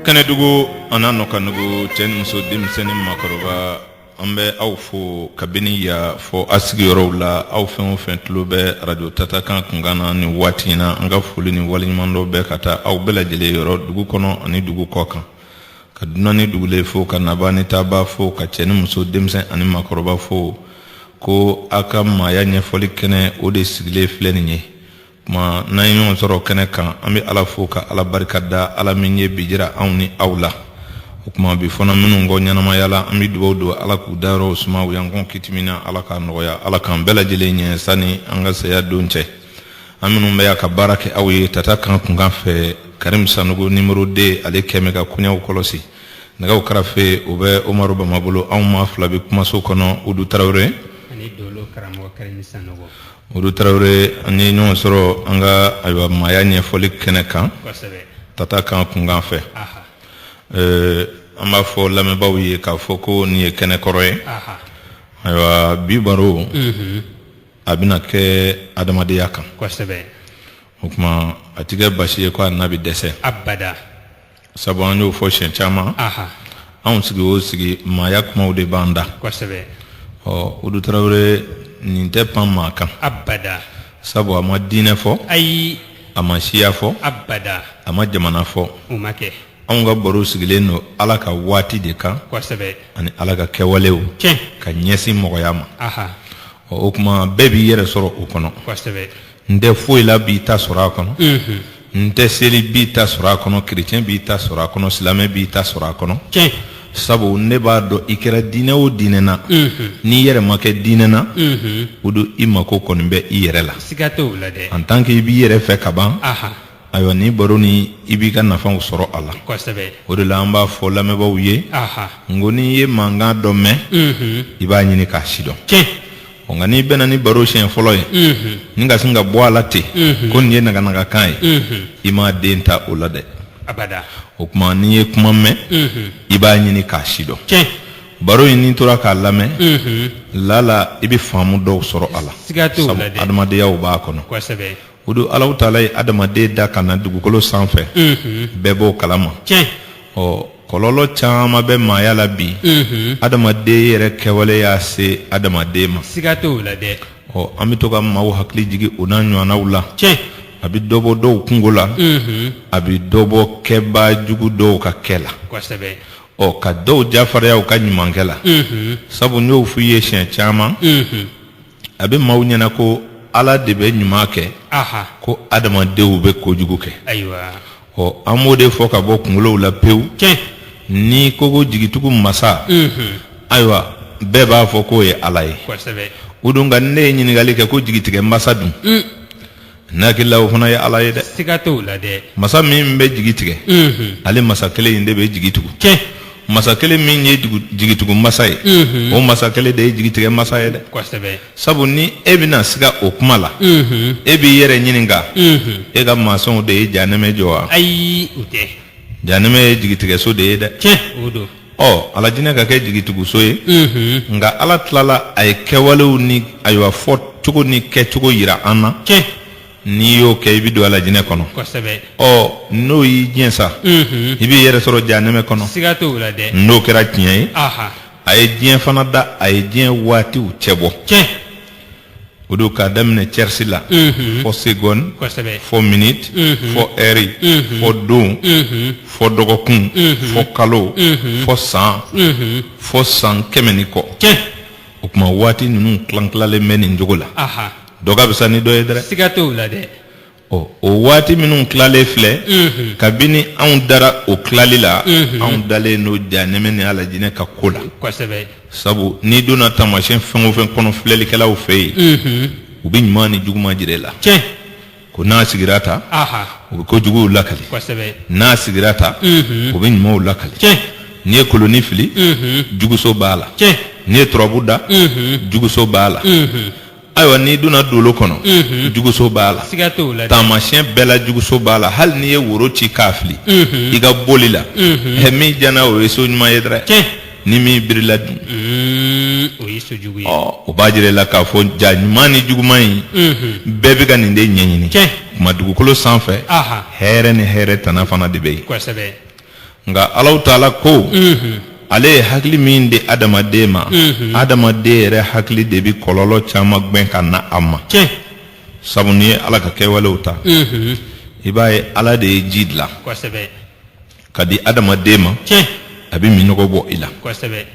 kɛnɛdugu an'a nɔkandugu cɛ ni muso denmisɛn ni makɔrɔba an bɛ aw fo kabini yan fo aw sigiyɔrɔw la aw fɛn o fɛn tulo bɛ arajo tata kan kunkan na nin waati in na an ka foli ni waleɲumandɔn bɛ ka taa aw bɛɛ lajɛlen yɔrɔ dugu kɔnɔ ani dugu kɔkan ka dunan ni dugulen fo ka nabaa ni taabaa fo ka cɛ ni muso denmisɛn ani makɔrɔba fo ko aw ka maaya ɲɛfɔli kɛnɛ o de sigilen filɛ nin ye tuma n'an ye ɲɔgɔn sɔrɔ kɛnɛ kan an bɛ ala fo ka ala barika da ala min ye bi jira anw ni aw la o tuma bi fana minnu kɔ ɲɛnamaya la an bɛ dugawu don ala k'u dayɔrɔw suma u y'an kɔn kiti min na ala k'a nɔgɔya ala k'an bɛɛ lajɛlen ɲɛ sani an ka saya don cɛ an minnu bɛ yan ka baara kɛ aw ye tata kan kunkan fɛ karim sanogo numéro deux ale kɛmɛ ka koɲɛw kɔlɔsi nɛgɛw karafe o bɛ umaru bama bolo anw maa fila bɛ kumaso kɔnɔ udu tarawele ani dolo karamɔgɔ karim sanogo Udu tarawele an ye ɲɔgɔn sɔrɔ an ka ayiwa maaya ɲɛfɔli kɛnɛ kan tata kan kunkan fɛ an b'a fɔ lamɛnbaaw ye k'a fɔ ko nin ye kɛnɛ kɔrɔ ye ayiwa bi baro a bɛna kɛ adamadenya kan o tuma a tɛ kɛ basi ye ko a na bɛ dɛsɛ sabu an y'o fɔ siɲɛ caman aha anw sigi o sigi maaya kumaw de b'an da kosɛbɛ ɔ udu tarawele nin tɛ pan maa kan abada sabu a ma diinɛ fɔ ayi a ma siya fɔ abada a ma jamana fɔ o ma kɛ anw ka baro sigilen don ala ka waati de kan kosɛbɛ ani ala ka kɛwalew tiɲɛ ka ɲɛsin mɔgɔya ma aha ɔ o tuma bɛɛ b'i yɛrɛ sɔrɔ o kɔnɔ kosɛbɛ n tɛ foyi la b'i ta sɔrɔ a kɔnɔ n tɛ seli b'i ta sɔrɔ a kɔnɔ kerecɛn b'i ta sɔrɔ a kɔnɔ silamɛ b'i ta sɔrɔ a kɔnɔ sabu ne b'a dɔn i kɛra diinɛ o diinɛ na n'i yɛrɛ ma kɛ diinɛ na o dun i mako kɔni bɛ i yɛrɛ la en tant que i b'i yɛrɛ fɛ ka ban ayiwa nin baro nin i b'i ka nafaw sɔrɔ a la o de la an b'a fɔ lamɛnbaaw ye n ko n'i ye mankan dɔ mɛn i b'a ɲini k'a sidɔn ɔ nka n'i bɛnna ni baro siɲɛ fɔlɔ ye unhun, n'i ka sin ka bɔ a la ten Mhm. ko nin ye naganagakan ye unhun, i m'a den ta o la dɛ abada o tuma n'i ye kuma mɛn unhun, i b'a ɲini k'a sidɔn tiɲɛ baro in n'i tora k'a lamɛn unhun, lala i bɛ faamu dɔw sɔrɔ a la siga t'o la dɛ sabu adamadenyaw b'a kɔnɔ kosɛbɛ O dun Alahu taala ye adamaden da ka na dugukolo sanfɛ bɛɛ b'o kalama ɔ kɔlɔlɔ caman bɛ maaya la bi adamaden yɛrɛ kɛwale y'a se adamaden ma siga t'o la dɛ ɔ an bɛ to ka maaw hakili jigin o n'a ɲɔgɔnnaw la a bɛ dɔ bɔ dɔw kunko la a bɛ dɔ bɔ kɛbaa jugu dɔw ka kɛ la kosɛbɛ ɔ ka dɔw jafarinya u ka ɲumankɛ la sabu n y'o f'i ye siɲɛ caman a bɛ maaw ɲɛna ko ala de bɛ ɲuman kɛ ko adamadenw bɛ kojugu kɛ ayiwa ɔ an b'o de fɔ ka bɔ kunkolow la pewu cɛ n'i ko ko jigitugu masa ayiwa bɛɛ b'a fɔ k'o ye ala ye o don nka ne ye ɲininkali kɛ ko jigitigɛ masa dun Ne hakili la o fana ye ala ye dɛ siga t'o la dɛ masa min bɛ jigi tigɛ ale masa kelen in de bɛ jigi tugu cɛ masa kelen min ye jigitugu masa ye o masa kelen de ye jigitigɛ masa ye dɛ sabu ni e bɛna siga o kuma la e b'i yɛrɛ ɲininka e ka masɔnw de ye janɛmɛ jɔ wa ayi janɛmɛ ye jigitigɛso de ye dɛ cɛ ɔ alajinɛ ka kɛ jigituguso ye nka ala tilala a ye kɛwalew ni ayiwa fɔcogo ni kɛcogo yira an na tiɲɛ n'i y'o kɛ i bɛ don alajinɛ kɔnɔ kosɛbɛ ɔ n'o y'i diɲɛ sa Mhm. i b'i yɛrɛ sɔrɔ janɛmɛ kɔnɔ siga t'o la dɛ n'o kɛra tiɲɛ ye aha a ye diɲɛ fana da a ye diɲɛ waatiw cɛbɔ tiɲɛ o don k'a daminɛ cɛrisi la fɔ segɔni kosɛbɛ fɔ miniti fɔ ɛri fɔ don fɔ dɔgɔkun fɔ kalo fɔ san fɔ san kɛmɛ ni kɔ tiɲɛ o tuma waati ninnu tilan-tilalen bɛ nin cogo la aha dɔ ka fisa ni dɔ ye dɛ siga t'o la dɛ ɔ o waati minnu tilalen filɛ kabini anw dara o tilali la anw dalen n'o janɛmɛ ni alajinɛ ka ko la kosɛbɛ sabu n'i donna taamasiyɛn fɛn o fɛn kɔnɔ filɛlikɛlaw fɛ yen u bɛ ɲuman ni juguman jira i la tiɲɛ ko n'a sigira tan aha u bɛ kojuguw lakali kosɛbɛ n'a sigira tan u bɛ ɲumanw lakali tiɲɛ n'i ye koloni fili juguso b'a la tiɲɛ n'i ye turabu da juguso b'a la ayiwa n'i donna dolo kɔnɔ Mhm. juguso b'a la siga t'o la dɛ. taamasiyɛn bɛɛ la juguso b'a la hali n'i ye woro ci k'a fili Mhm. i ka boli la Mhm. ɛ min janna o ye so ɲuman ye dɛrɛ tiɲɛ ni min birila dun Mm, o ye so jugu ye ɔ o b'a jira i la k'a fɔ jaa ɲuman ni juguman in Mhm. bɛɛ bɛ ka nin de ɲɛɲini tiɲɛ kuma dugukolo sanfɛ aha hɛrɛ ni hɛrɛ tana fana de bɛ yen kosɛbɛ nka alahu taala ko ale ye hakili min di adamaden ma adamaden yɛrɛ hakili de bɛ kɔlɔlɔ caman gɛn ka na a ma tiɲɛ sabu n'i ye ala ka kɛwalew ta i b'a ye ala de ye ji dilan kosɛbɛ ka di adamaden ma tiɲɛ a bɛ minnɔgɔ bɔ i la kosɛbɛ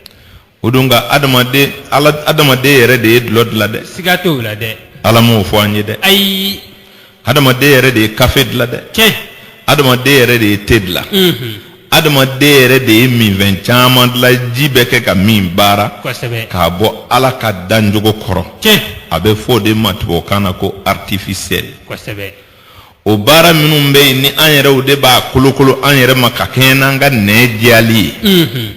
o don nka adamaden ala adamaden yɛrɛ de ye dulɔ dilan dɛ siga t'o la dɛ ala m'o fɔ an ye dɛ ayi adamaden yɛrɛ de ye kafe dilan dɛ tiɲɛ adamaden yɛrɛ de ye te dilan mhm, adamaden yɛrɛ de ye minfɛn caman dilan ji bɛ kɛ ka min baara kosɛbɛ k'a bɔ ala ka danjogo kɔrɔ tiɲɛ a bɛ fɔ o de ma tubabukan na ko artificiel kosɛbɛ o baara minnu bɛ yen ni an yɛrɛw de b'a kolokolo an yɛrɛ ma ka kɛɲɛ n'an ka nɛn diyali ye unhun,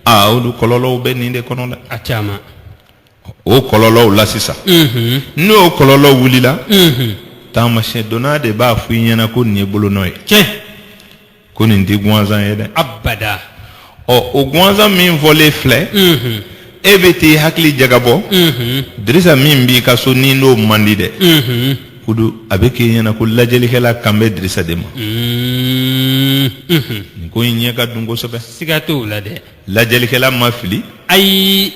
aa olu kɔlɔlɔw bɛ nin de kɔnɔ dɛ a caman o kɔlɔlɔw la sisan unhun, n'o kɔlɔlɔ wulila unhun, taamasiyɛn dɔnna de b'a fɔ i ɲɛna ko nin ye bolonɔ ye tiɲɛ ko nin tɛ gansan ye dɛ abada ɔ o gansan min fɔlen filɛ unhun e bɛ t'i hakili jagabɔ unhun dirisa min b'i ka so n'i n'o man di dɛ unhun kudu a bɛ k'i ɲɛna ko lajɛlikɛla kan bɛ dirisa de ma Mm, mhm. nin ko in ɲɛ ka dun kosɛbɛ siga t'o la dɛ lajɛlikɛla ma fili ayi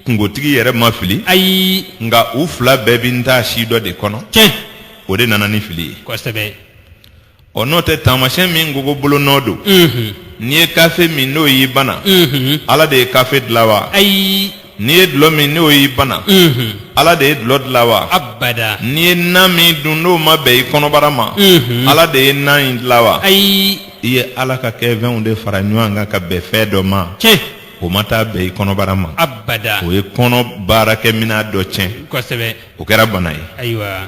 kungotigi yɛrɛ ma fili ayi nka u fila bɛɛ bɛ taasi dɔ de kɔnɔ tiɲɛ o de nana ni fili ye kosɛbɛ ɔ n'o tɛ taamasiyɛn min ko ko bolonɔ don n'i ye kafe min n'o y'i bana ala de ye kafe dilan wa ayi n'i ye dulɔ min n'o y'i bana ala de ye dulɔ dilan wa abada n'i ye nan min dun n'o ma bɛn i kɔnɔbara ma ala de ye nan in dilan wa ayi i ye ala ka kɛfɛnw de fara ɲɔgɔn kan ka bɛn fɛn dɔ ma tiɲɛ o ma taa bɛn i kɔnɔbara ma abada o ye kɔnɔ baarakɛminɛn dɔ tiɲɛ kosɛbɛ o kɛra bana ye ayiwa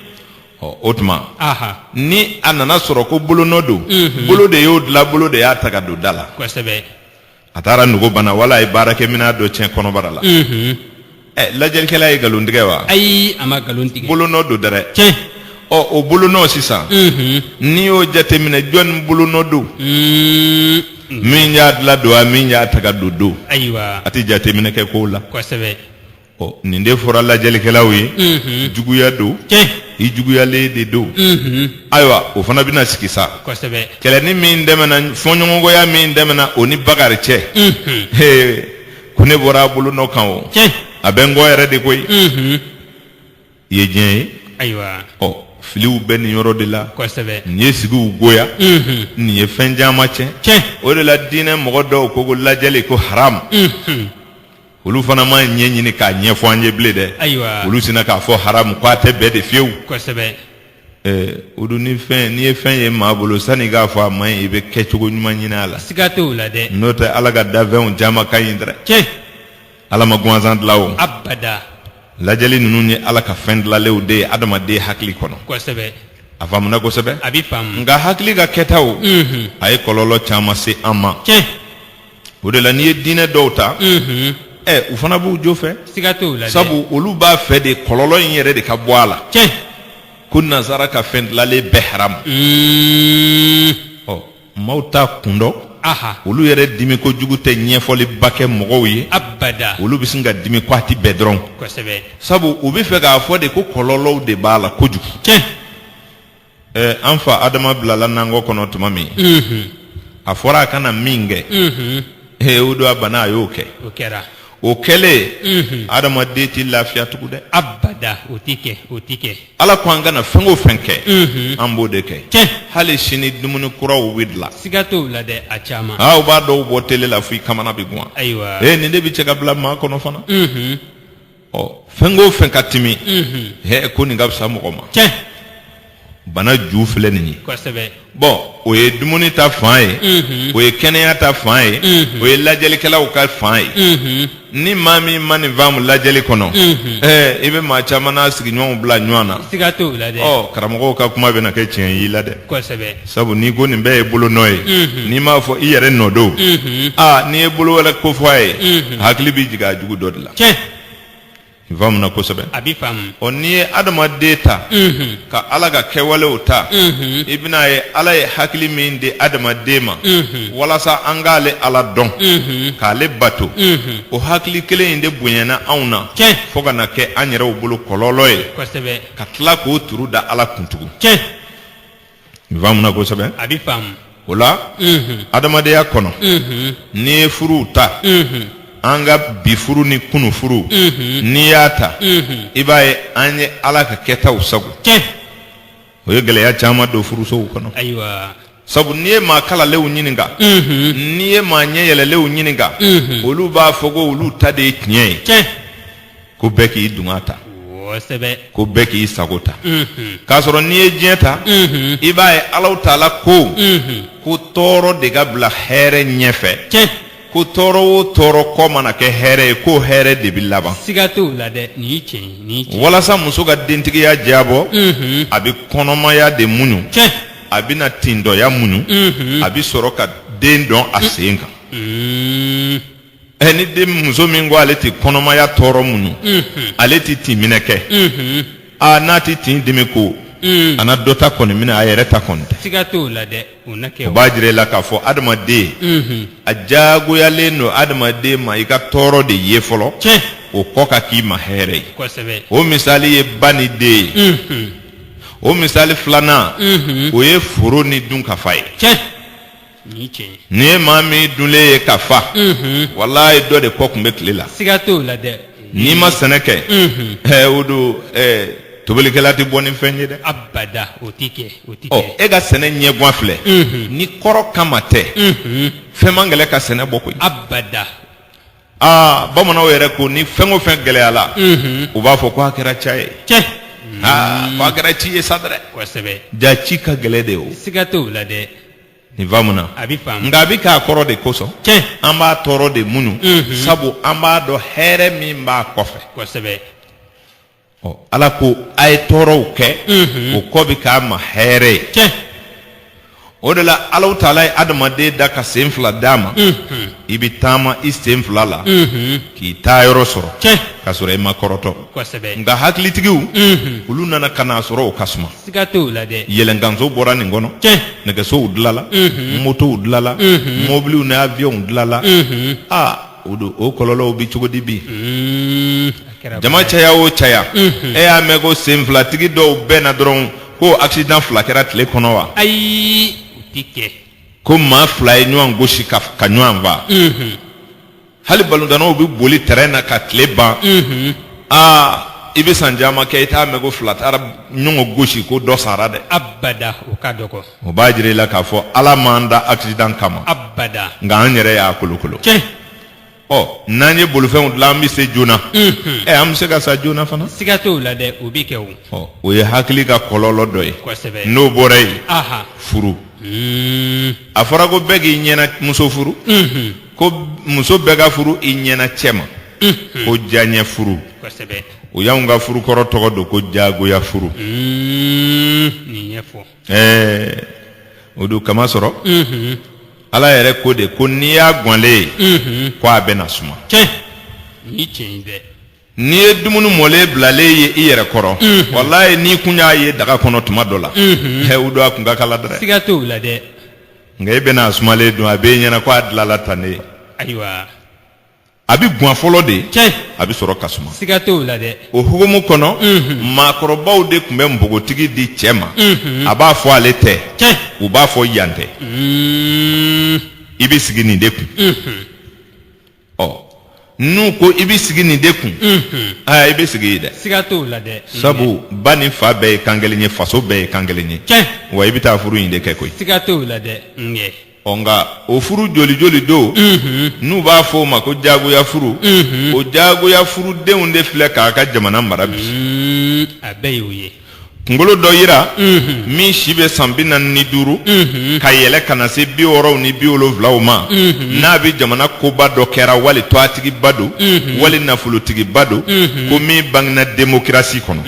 ɔ o tuma aha ni a nana sɔrɔ ko bolonɔ don Mhm. bolo de y'o dilan bolo de y'a ta ka don da la kosɛbɛ a taara nugu bana wala a ye baarakɛminɛn dɔ tiɲɛ kɔnɔbara la Mhm. ɛ lajɛlikɛla ye nkalon tigɛ wa ayi a ma nkalon tigɛ bolonɔ don dɛrɛ tiɲɛ ɔ o bolonɔ sisan Mhm. n'i y'o jateminɛ jɔni bolonɔ don Mm. min y'a dilan don wa min y'a ta ka don don ayiwa a tɛ jateminɛ kɛ kow la kosɛbɛ ɔ nin de fɔra lajɛlikɛlaw ye Unhun. juguya don tiɲɛ i juguyalen de don Unhun. ayiwa o fana bɛna sigi sa kosɛbɛ kɛlɛni min tɛmɛna fɔɲɔgɔnkɔya min tɛmɛna o ni bakari cɛ Unhun. He, ko ne bɔra a bolonɔ kan o tiɲɛ a bɛ n kɔ yɛrɛ de koyi Unhun. i ye diɲɛ ye ayiwa ɔ filiw bɛ nin yɔrɔ de la kosɛbɛ nin ye sigiw goya Unhun. nin ye fɛn caman tiɲɛ tiɲɛ o de la diinɛ mɔgɔ dɔw ko ko lajɛli ko haramu Unhun. olu fana ma ɲɛ ɲini k'a ɲɛfɔ an ye bilen dɛ ayiwa olu sinna k'a fɔ haramu k'a tɛ bɛn de fiyewu kosɛbɛ ɛɛ o dun ni fɛn n'i ye fɛn ye maa bolo sanni k'a fɔ a man ɲi i bɛ kɛcogo ɲuman ɲini a la siga t'o la dɛ n'o tɛ ala ka dafɛnw caman ka ɲi dɛ tiɲɛ ala ma gansan dilan o abada lajɛli ninnu ye ala ka fɛn dilanlenw de ye adamaden hakili kɔnɔ kosɛbɛ a faamuna kosɛbɛ a bɛ faamu nka hakili ka kɛtaw unhun a ye kɔlɔlɔ caman se an ma tiɲɛ o de la n'i ye diinɛ dɔw ta ɛ u fana b'u jo fɛ siga t'o la dɛ. sabu olu b'a fɛ de kɔlɔlɔ in yɛrɛ de ka bɔ a la tiɲɛ ko nazara ka fɛn dilalen bɛɛ haramu Mm. ɔ maaw t'a kun dɔn aha olu yɛrɛ dimi kojugu tɛ ɲɛfɔliba kɛ mɔgɔw ye abada olu bɛ sin ka dimi ko a tɛ bɛn dɔrɔn kosɛbɛ sabu u bɛ fɛ k'a fɔ de ko kɔlɔlɔw de b'a la kojugu tiɲɛ Ɛɛ an fa adama bilala nankɔ kɔnɔ tuma min a fɔra a kana min kɛ ee o don a bana a y'o kɛ o kɛra o kɛlen adamaden tɛ lafiya tugu dɛ abada o tɛ kɛ o tɛ kɛ ala ko an kana fɛn o fɛn kɛ an b'o de kɛ Tiɲɛ. hali sini dumuni kuraw bɛ dilan siga t'o la dɛ a caman aa u b'a dɔw bɔ tele la fo i kamana bɛ guwan ayiwa ee nin de bɛ cɛ ka bila maa kɔnɔ fana ɔ fɛn ko fɛn ka timi hɛ ko nin ka fisa mɔgɔ ma tiɲɛ bana ju filɛ nin ye kosɛbɛ bɔn o ye dumuni ta fan ye o ye kɛnɛya ta fan ye o ye lajɛlikɛlaw ka fan ye ni maa min ma nin faamu lajɛli kɔnɔ ɛɛ i bɛ maa caman n'a sigiɲɔgɔnw bila ɲɔgɔn na siga t'o la dɛ ɔ karamɔgɔw ka kuma bɛna kɛ tiɲɛ y'i la dɛ kosɛbɛ sabu n'i ko nin bɛɛ ye bolo nɔ ye Unhun. n'i m'a fɔ i yɛrɛ nɔ don Unhun. aa n'i ye bolo wɛrɛ kofɔ a ye Unhun. hakili bɛ jigin a jugu dɔ de la tiɲɛ i faamuna kosɛbɛ a b'i faamu ɔ n'i ye adamaden ta Unhun. ka ala ka kɛwalew ta Unhun. i bɛn'a ye ala ye hakili min di adamaden ma Unhun. walasa an k'ale ala dɔn Unhun. k'ale bato Unhun. o hakili kelen in de bonyana anw na Tiɲɛ. fo ka na kɛ an yɛrɛw bolo kɔlɔlɔ ye kosɛbɛ ka tila k'o turu da ala kun tugun tiɲɛ I faamuna kosɛbɛ. A bɛ faamu. O la. Unhun. Adamadenya kɔnɔ. Unhun. N'i ye furuw ta. Unhun. An ka bi furu ni kunu furu. Unhun. N'i y'a ta. Unhun. I b'a ye an ye Ala ka kɛtaw sagon. Tiɲɛ. O ye gɛlɛya caman don furusow kɔnɔ. Ayiwa. Sabu n'i ye maa kalalenw ɲininka. Unhun. N'i ye maa ɲɛ yɛlɛlenw ɲininka. Unhun. Olu b'a fɔ ko olu ta de ye tiɲɛ ye. Tiɲɛ. ko bɛɛ k'i dungɔ ta ko bɛɛ k'i sago ta k'a sɔrɔ n'i ye diɲɛ ta i b'a ye ala ta la ko ko tɔɔrɔ de ka bila hɛrɛ ɲɛfɛ ko tɔɔrɔ o tɔɔrɔ kɔ mana kɛ hɛrɛ ye ko hɛrɛ de bɛ laban siga t'o la dɛ nin ye tiɲɛ ye tiɲɛ walasa muso ka dentigiya diyabɔ mhm. a bɛ kɔnɔmaya de muɲu tiɲɛ a bɛna tintɔya muɲu mhm. a bɛ sɔrɔ ka den dɔn a sen kan mhm. ɛ ni den muso min ko ale tɛ kɔnɔmaya tɔɔrɔ muɲu ale tɛ tin minɛ kɛ aa n'a tɛ tin dimi ko a na dɔ ta kɔni minɛ a yɛrɛ ta kɔni tɛ siga t'o la dɛ o na kɛ o b'a jira i la k'a fɔ adamaden a diyagoyalen don adamaden ma i ka tɔɔrɔ de ye fɔlɔ tiɲɛ o kɔ ka k'i ma hɛrɛ ye kosɛbɛ o misali ye ba ni den ye o misali filanan o ye foro ni dunkafa ye tiɲɛ N'i ye maa min dunlen ye ka fa walayi dɔ de kɔ tun bɛ tile la siga t'o la dɛ n'i ma sɛnɛ kɛ o don tobilikɛla tɛ bɔ ni fɛn ye dɛ o e ka sɛnɛ ɲɛgan filɛ ni kɔrɔ kama tɛ fɛn man gɛlɛ ka sɛnɛ bɔ koyi abada aa bamananw yɛrɛ ko ni fɛn o fɛn gɛlɛyala u b'a fɔ ko a kɛra ca ye cɛ aa kɛra ci ye sa dɛ ja ci ka gɛlɛ de o siga t'o la dɛ nin faamuna a bɛ faamu nka a bɛ k'a kɔrɔ de kosɔn tiɲɛ an b'a tɔɔrɔ de muɲu Mhm. sabu an b'a dɔn hɛrɛ min b'a kɔfɛ kosɛbɛ Ɔ, ala ko a ye tɔɔrɔw kɛ Mhm. o kɔ bɛ k'a ma hɛrɛ ye tiɲɛ o de la alahu taala ye adamaden da ka sen fila d'a ma Mhm. i bɛ taama i sen fila la Mhm. k'i taa yɔrɔ sɔrɔ tiɲɛ k'a sɔrɔ i ma kɔrɔtɔ kosɛbɛ nka hakilitigiw Mhm. olu nana ka n'a sɔrɔ o ka suma siga t'o la dɛ yɛlɛnkanso bɔra nin kɔnɔ tiɲɛ nɛgɛsow dilala Unhun. motow dilala Unhun. mɔbiliw ni awiyɔnw dilala Unhun. a o don o kɔlɔlɔw bɛ cogo di bi Mm, a kɛra jama caya o caya Unhun. e y'a mɛn ko sen filatigi dɔw bɛnna dɔrɔn ko accident fila kɛra tile kɔnɔ wa ayi o tɛ kɛ ko maa fila ye ɲɔgɔn gosi ka ɲɔgɔn fa Unhun. hali balontanw bɛ boli tɛrɛn na ka tile ban aa i bɛ san caman kɛ i t'a mɛn ko fila taara ɲɔgɔn gosi ko dɔ sara dɛ abada o ka dɔgɔ o b'a jira i la k'a fɔ ala m'an da accident kama abada nka an yɛrɛ y'a kolokolo tiɲɛ ɔ n'an ye bolifɛnw dilan an bɛ se joona ɛ an bɛ se ka sa joona fana siga t'o la dɛ o bɛ kɛ o ɔ o ye hakili ka kɔlɔlɔ dɔ ye kosɛbɛ n'o bɔra yen aha furu a fɔra ko bɛɛ k'i ɲɛna muso furu ko muso bɛɛ ka furu i ɲɛna cɛ ma ko diyaɲɛ furu u y'anw ka furu kɔrɔ tɔgɔ don ko jagoya furu o don k'a masɔrɔ ala yɛrɛ ko de ko n'i y'a ganlen ye ko a bɛ na suma N'i ye dumuni mɔlen bilalen ye i yɛrɛ kɔrɔ walayi n'i kun y'a ye daga kɔnɔ tuma dɔ la o don a kun ka kalan dɛ siga t'o la dɛ nka e bɛna a sumalen dun a bɛ e ɲɛna ko a dilanla tan ne ayiwa a bɛ gwan fɔlɔ de cɛ a bɛ sɔrɔ ka suma siga t'o la dɛ o hukumu kɔnɔ maakɔrɔbaw de tun bɛ npogotigi di cɛ ma a b'a fɔ ale tɛ cɛ u b'a fɔ yan tɛ i bɛ sigi nin de kun ɔ n'u ko i bɛ sigi nin de kun aa i bɛ sigi yen dɛ siga t'o la dɛ sabu ba ni fa bɛɛ ye kan kelen ye faso bɛɛ ye kan kelen ye tiɲɛ wa i bɛ taa furu in de kɛ koyi siga t'o la dɛ ŋɛ ɔ nka o furu joli joli don n'u b'a fɔ o ma ko jagoya furu o jagoya furudenw de filɛ k'a ka jamana mara bi Mm, a bɛɛ y'o ye kunkolo dɔ yira min si bɛ san bi naani ni duuru ka yɛlɛ ka na se bi wɔɔrɔw ni bi wolonwulaw ma n'a bɛ jamana koba dɔ kɛra wali tɔgɔtigiba don wali nafolotigiba don ko min bangena démocratie kɔnɔ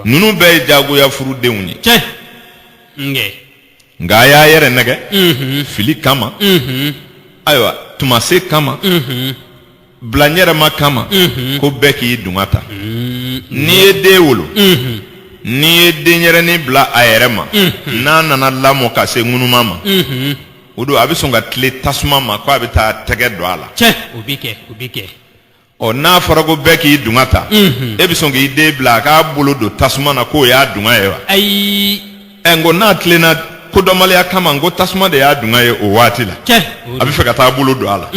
ninnu bɛɛ ye jagoya furu denw ye cɛ nka a y'a yɛrɛ nɛgɛ fili kama ayiwa tuma se kama bilaɲɛrɛma kama ko bɛɛ k'i dunga ta n'i ye den wolo n'i ye denyɛrɛnin bila a yɛrɛ ma n'a nana lamɔ ka se ŋunuma ma o don a bɛ sɔn ka tilen tasuma ma ko a bɛ taa tɛgɛ don a la o bɛ kɛ ɔ n'a fɔra ko bɛɛ k'i dunga ta e bɛ sɔn k'i den bila a k'a bolo don tasuma na k'o y'a dunga ye wa ɛ nko n'a tilenna kodɔnbaliya kama nko tasuma de y'a dunga ye o waati la cɛ a bɛ fɛ ka taa bolo don a la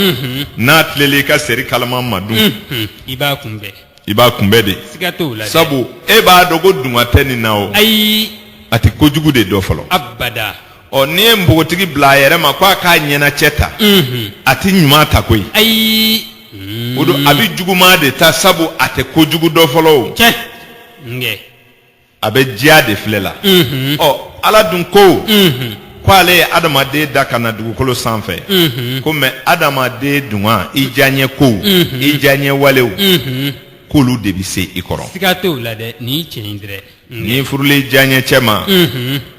n'a tilenna i ka seri kalama ma dun i b'a kunbɛn i b'a kunbɛn de siga t'o la dɛ. sabu e b'a dɔn ko dunga tɛ nin na o ayi a tɛ kojugu de dɔn fɔlɔ abada ɔ n'i ye npogotigi bila a yɛrɛ ma ko a k'a ɲɛnacɛ ta a tɛ ɲuman ta koyi ayi o don a bɛ juguman de ta sabu a tɛ kojugu dɔn fɔlɔ o cɛ nkɛ a bɛ diya de filɛ la ɔ ala dun ko ko ale ye adamaden dan ka na dugukolo sanfɛ ko mɛ adamaden dunga i diyaɲɛ kow i diyaɲɛ walew k'olu de bɛ se i kɔrɔ siga t'o la dɛ nin ye tiɲɛ ye dɛ n'i furula i diyaɲɛ cɛ ma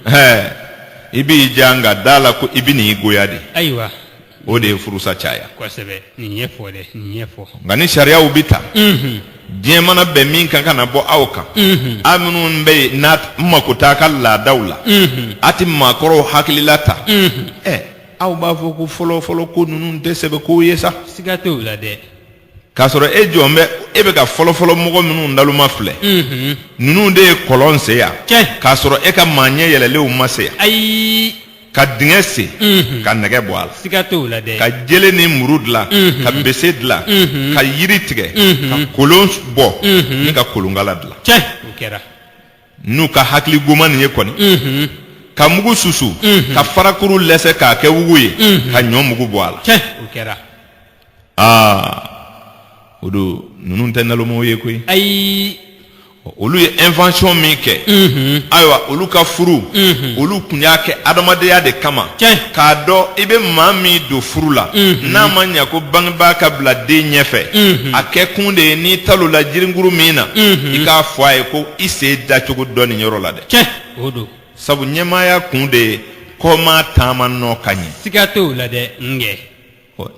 hɛ i b'i diya nka da a la ko i bɛ n'i goya de ayiwa o de ye furusa caya kosɛbɛ nin ye fɔ dɛ nin ye fɔ nka ni sariyaw bɛ ta diɲɛ mana bɛn min kan ka na bɔ aw kan aw minnu bɛ yen n'a mako t'a ka laadaw la a tɛ maakɔrɔw hakilila ta ɛ aw b'a fɔ ko fɔlɔ fɔlɔ ko ninnu tɛ sɛbɛ kow ye sa siga t'o la dɛ k'a sɔrɔ e jɔn bɛ e bɛ ka fɔlɔfɔlɔ mɔgɔ minnu naloma filɛ ninnu de ye kɔlɔn sen yan k'a sɔrɔ e ka maa ɲɛ yɛlɛlenw ma se yan ayi ka dingɛ sen ka nɛgɛ bɔ a la siga t'o la dɛ ka jele ni muru dilan ka bese dilan ka yiri tigɛ ka kolon bɔ ni ka kolonkala dilan cɛ o kɛra n'u ka hakili goman nin ye kɔni ka mugu susu ka farakuru lɛsɛ k'a kɛ wugu ye ka ɲɔ mugu bɔ a la cɛ o kɛra aa o don ninnu tɛ nalonmaw ye koyi ayi olu ye invention min kɛ ayiwa olu ka furu olu tun y'a kɛ adamadenya de kama Tiɲɛ. k'a dɔn i bɛ maa min don furu la n'a ma ɲɛ ko bangebaa ka bila den ɲɛfɛ a kɛ kun de ye n'i talonna jirinkuru min na i k'a fɔ a ye ko i sen dacogo dɔn nin yɔrɔ la dɛ tiɲɛ o don sabu ɲɛmaaya kun de ye kɔmaa taama nɔ ka ɲɛ siga t'o la dɛ n kɛ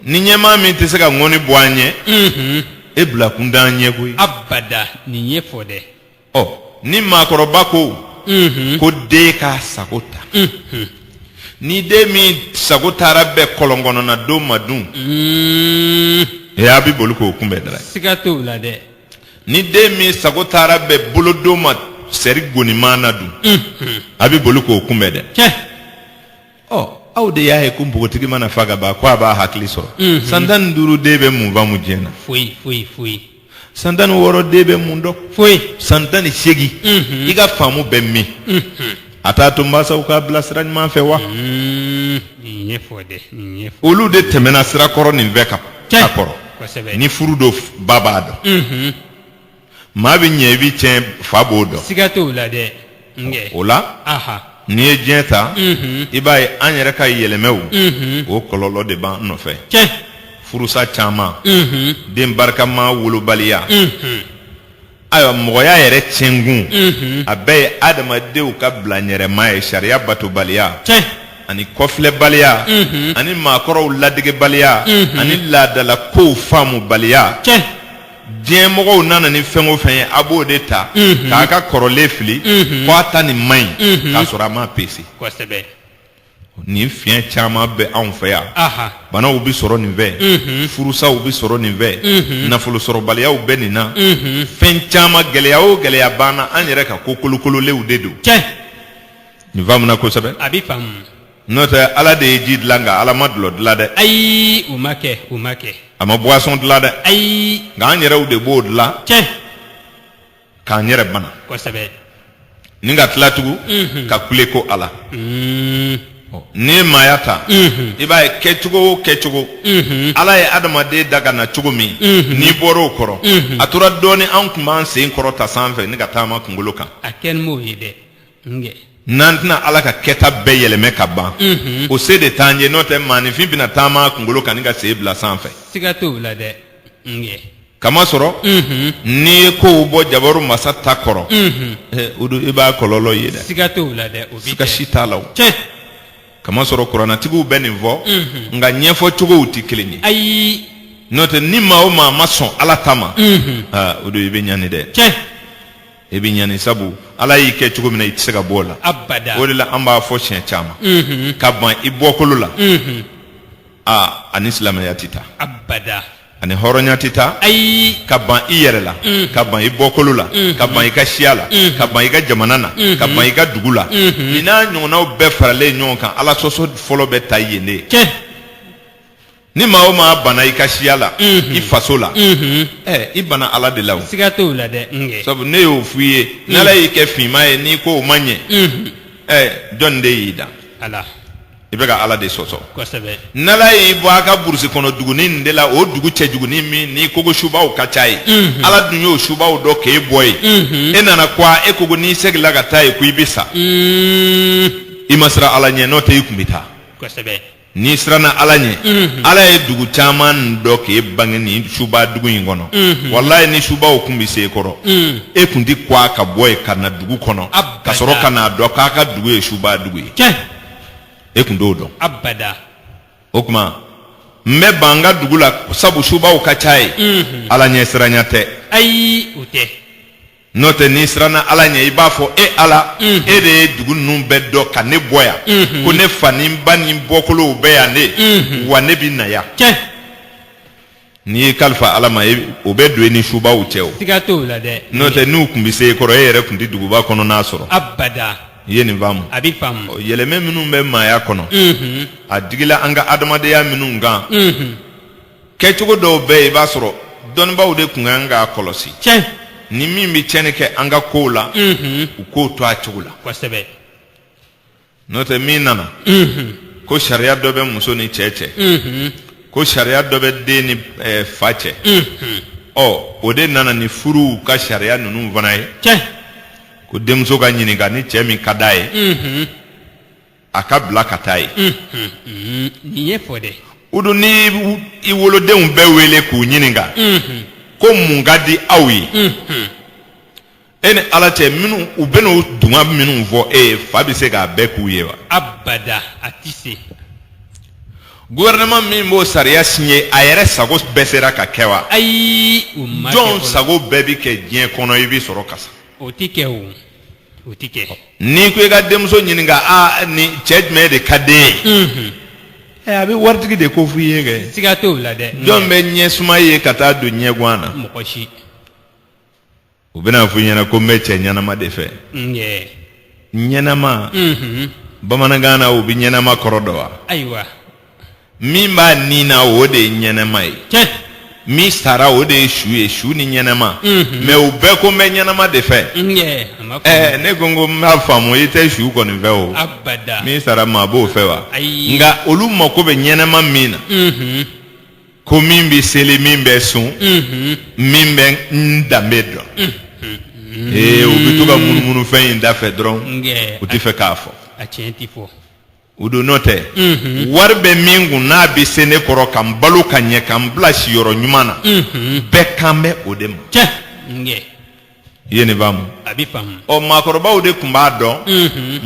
ni ɲɛmaa min tɛ se ka ŋɔni bɔ an ɲɛ mhm. e bila kun t'an ɲɛ koyi abada nin ye fɔ dɛ ɔ ni maakɔrɔba ko mhm. ko den k'a sago ta mhm. ni den min sago taara bɛn kɔlɔn kɔnɔna don ma dun mm. e a bɛ boli k'o kunbɛn dɛrɛ siga t'o la dɛ ni den min sago taara bɛn bolodon ma sɛri goniman na dun a bɛ boli k'o kunbɛn dɛ ɔ aw de y'a ye ko npogotigi mana fa ka ban ko a b'a hakili sɔrɔ mhm. san tan ni duuru den bɛ mun faamu diɲɛ na foyi foyi foyi san tan ni wɔɔrɔ den bɛ mun dɔn foyi san tan ni seegin mhm. i ka faamu bɛ min mhm. a t'a to mansaw k'a bila sira ɲuman fɛ wa olu de tɛmɛna sira kɔrɔ nin bɛɛ kan a kɔrɔ ni furu don ba b'a dɔn maa bɛ ɲɛ i bɛ tiɲɛ fa b'o dɔn siga t'o la dɛ nkɛ o la aha n'i ye diɲɛ ta Mhm. i b'a ye an yɛrɛ ka yɛlɛmɛw Mhm. o kɔlɔlɔ de b'an nɔfɛ tiɲɛ furusa caman Mhm. den barikama wolobaliya Mhm. ayiwa mɔgɔya yɛrɛ tiɲɛkun Mhm. a bɛɛ ye adamadenw ka bilaɲɛrɛma ye sariya batobaliya tiɲɛ ani kɔfilɛbaliya Mhm. ani maakɔrɔw ladegebaliya Mhm. ani laadala kow faamubaliya tiɲɛ diɲɛ mɔgɔw nana ni fɛn o fɛn ye a b'o de ta k'a ka kɔrɔlen fili ko a ta nin man ɲi k'a sɔrɔ a m'a pese kosɛbɛ nin fiɲɛ caman bɛ anw fɛ yan banaw bɛ sɔrɔ nin fɛ furusaw bɛ sɔrɔ nin fɛ nafolosɔrɔbaliyaw bɛ nin na fɛn caman gɛlɛya o gɛlɛya b'an na an yɛrɛ ka ko kolokololenw de don nin faamuna kosɛbɛ a bɛ faamu n'o tɛ ala de ye ji dilan nka ala ma dulɔ dilan dɛ ayi o ma kɛ o ma kɛ a ma boisson dilan dɛ ayi nka an yɛrɛw de b'o dilan tiɲɛ k'an yɛrɛ bana kosɛbɛ ni ka tila tugun Mhm. ka kule ko ala Mm, n'i ye maaya ta mhm, i b'a ye kɛcogo o kɛcogo mhm. ala ye adamaden da ka na cogo min Mhm. n'i bɔra o kɔrɔ Mhm. a tora dɔɔni an tun b'an sen kɔrɔta sanfɛ ni ka taama kunkolo kan a kɛ ni m'o ye dɛ n'an tɛna ala ka kɛta bɛɛ yɛlɛmɛ ka ban o se de t'an ye n'o tɛ maanifin bɛna taama kunkolo kan ni ka sen bila sanfɛ kamasɔrɔ n'i ye kow bɔ jabaru masa ta kɔrɔ o don i b'a kɔlɔlɔ ye dɛ siga si t'a la kamasɔrɔ kuranatigiw bɛ nin fɔ nka ɲɛfɔcogow tɛ kelen ye ayi n'o tɛ ni maa o maa ma sɔn ala ta ma o don i bɛ ɲani dɛ i bɛ ɲani sabu ala y'i kɛ cogo min na i tɛ se ka bɔ o la abada o de la an b'a fɔ siɲɛ caman mhm. ka ban i bɔkolo la mhm. aa ani silamɛya tɛ taa abada ani hɔrɔnya tɛ taa ayi ka ban i yɛrɛ la mhm. ka ban i bɔkolo la ka ban i ka siya la ka ban i ka jamana na ka ban i ka dugu la nin n'a ɲɔgɔnnaw bɛɛ faralen ɲɔgɔn kan ala sɔsɔ fɔlɔ bɛ ta yen de ni maa o maa banna i ka siya la i faso la ɛ i banna ala de la o siga t'o la dɛ n kɛ sabu ne y'o f'i ye n'ala y'i kɛ finman ye n'i ko o ma ɲɛ ɛ jɔnni de y'i dan ala i bɛ ka ala de sɔsɔ kosɛbɛ n'ala y'i bɔ a ka burusi kɔnɔ dugunin nin de la o dugu cɛjugunin min n'i ko ko subaw ka ca ye ala dun y'o subaw dɔn k'e bɔ ye e nana kuwa e ko ko n'i segila ka taa ye ko i bɛ sa Mm, i ma siran ala ɲɛ n'o tɛ i kun bɛ taa kosɛbɛ n'i siranna ala ɲɛ ala ye dugu caman dɔn k'e bange nin suba dugu in kɔnɔ walayi ni subaw kun bɛ se e kɔrɔ e kun tɛ kuwa ka bɔ ye ka na dugu kɔnɔ Abada. ka sɔrɔ ka n'a dɔn k'a ka dugu ye suba dugu ye tiɲɛ e kun t'o dɔn abada o tuma n bɛ ban n ka dugu la sabu subaw ka ca ye ala ɲɛ siranya tɛ ayi o tɛ n'o tɛ n'i siranna ala ɲɛ i b'a fɔ e ala e de ye dugu ninnu bɛɛ dɔn ka ne bɔ yan ko ne fa ni n ba ni n bɔkolow bɛ yan de wa ne bɛ na yan n'i y'i kalifa ala ma o bɛ don i ni subaw cɛ o n'o tɛ n'u kun bɛ se e kɔrɔ e yɛrɛ kun tɛ duguba kɔnɔna sɔrɔ abada i ye nin faamu a bɛ faamu yɛlɛmɛ minnu bɛ maaya kɔnɔ a digila an ka adamadenya minnu kan kɛcogo dɔw bɛ yen i b'a sɔrɔ dɔnnibaaw de tun kan k'a kɔlɔsi tiɲɛ ni min bɛ tiɲɛni kɛ an ka kow la u k'o to a cogo la kosɛbɛ n'o tɛ min nana ko sariya dɔ bɛ muso ni cɛ cɛ ko sariya dɔ bɛ den ni eh, fa cɛ ɔ o de nana ni furuw ka sariya ninnu fana ye tiɲɛ ko denmuso ka ɲininka ni cɛ min ka d'a ye a ka bila ka taa ye nin ye fɔ dɛ o dun ni i wolodenw bɛɛ wele k'u ɲininka ko mun ka di aw ye e ni ala cɛ minnu u bɛna u dungo minnu fɔ e ye fa bɛ se k'a bɛɛ k'u ye wa abada a tɛ se gouvernement min b'o sariya signé a yɛrɛ sago bɛɛ sera ka kɛ wa ayi o ma kɛ jɔn fɔlɔ. sago bɛɛ bɛ kɛ diɲɛ kɔnɔ i bɛ sɔrɔ ka sa o tɛ kɛ o o tɛ kɛ n'i ko i ka denmuso ɲininka aa ni cɛ jumɛn de ka d'e ye ɛ a bɛ waritigi de ko f'i ye kɛ siga t'o la dɛ jɔn bɛ ɲɛsuma ye ka taa don ɲɛguan na mɔgɔ si u bɛn'a f'i ɲɛna ko n bɛ cɛ ɲɛnama de fɛ nkɛ ɲɛnama bamanankan na u bɛ ɲɛnama kɔrɔ dɔn wa ayiwa min b'a ni na o de ye ɲɛnama ye tiɲɛ min sara o de ye su ye su ni ɲɛnama Mhm. mɛ u bɛɛ ko n bɛ ɲɛnama de fɛ n yɛ a ma ɛɛ faamu ne ko n ko n b'a faamu i tɛ su kɔni fɛ o abada min sara maa b'o fɛ wa Ayi. nka olu mako bɛ ɲɛnama min na Mhm, ko min bɛ seli min bɛ sun mhm, min bɛ n danbe dɔn ee u bɛ to ka munumunu fɛn in da fɛ dɔrɔn n yɛ u tɛ fɛ k'a fɔ a tiɲɛ ti fɔ u don n'o tɛ wari bɛ min kun n'a bɛ se ne kɔrɔ ka n balo ka ɲɛ ka n bila siyɔrɔ ɲuman na bɛɛ kan bɛ o de ma tiɲɛ nge i ye nin faamu a bɛ faamu ɔ maakɔrɔbaw de tun b'a dɔn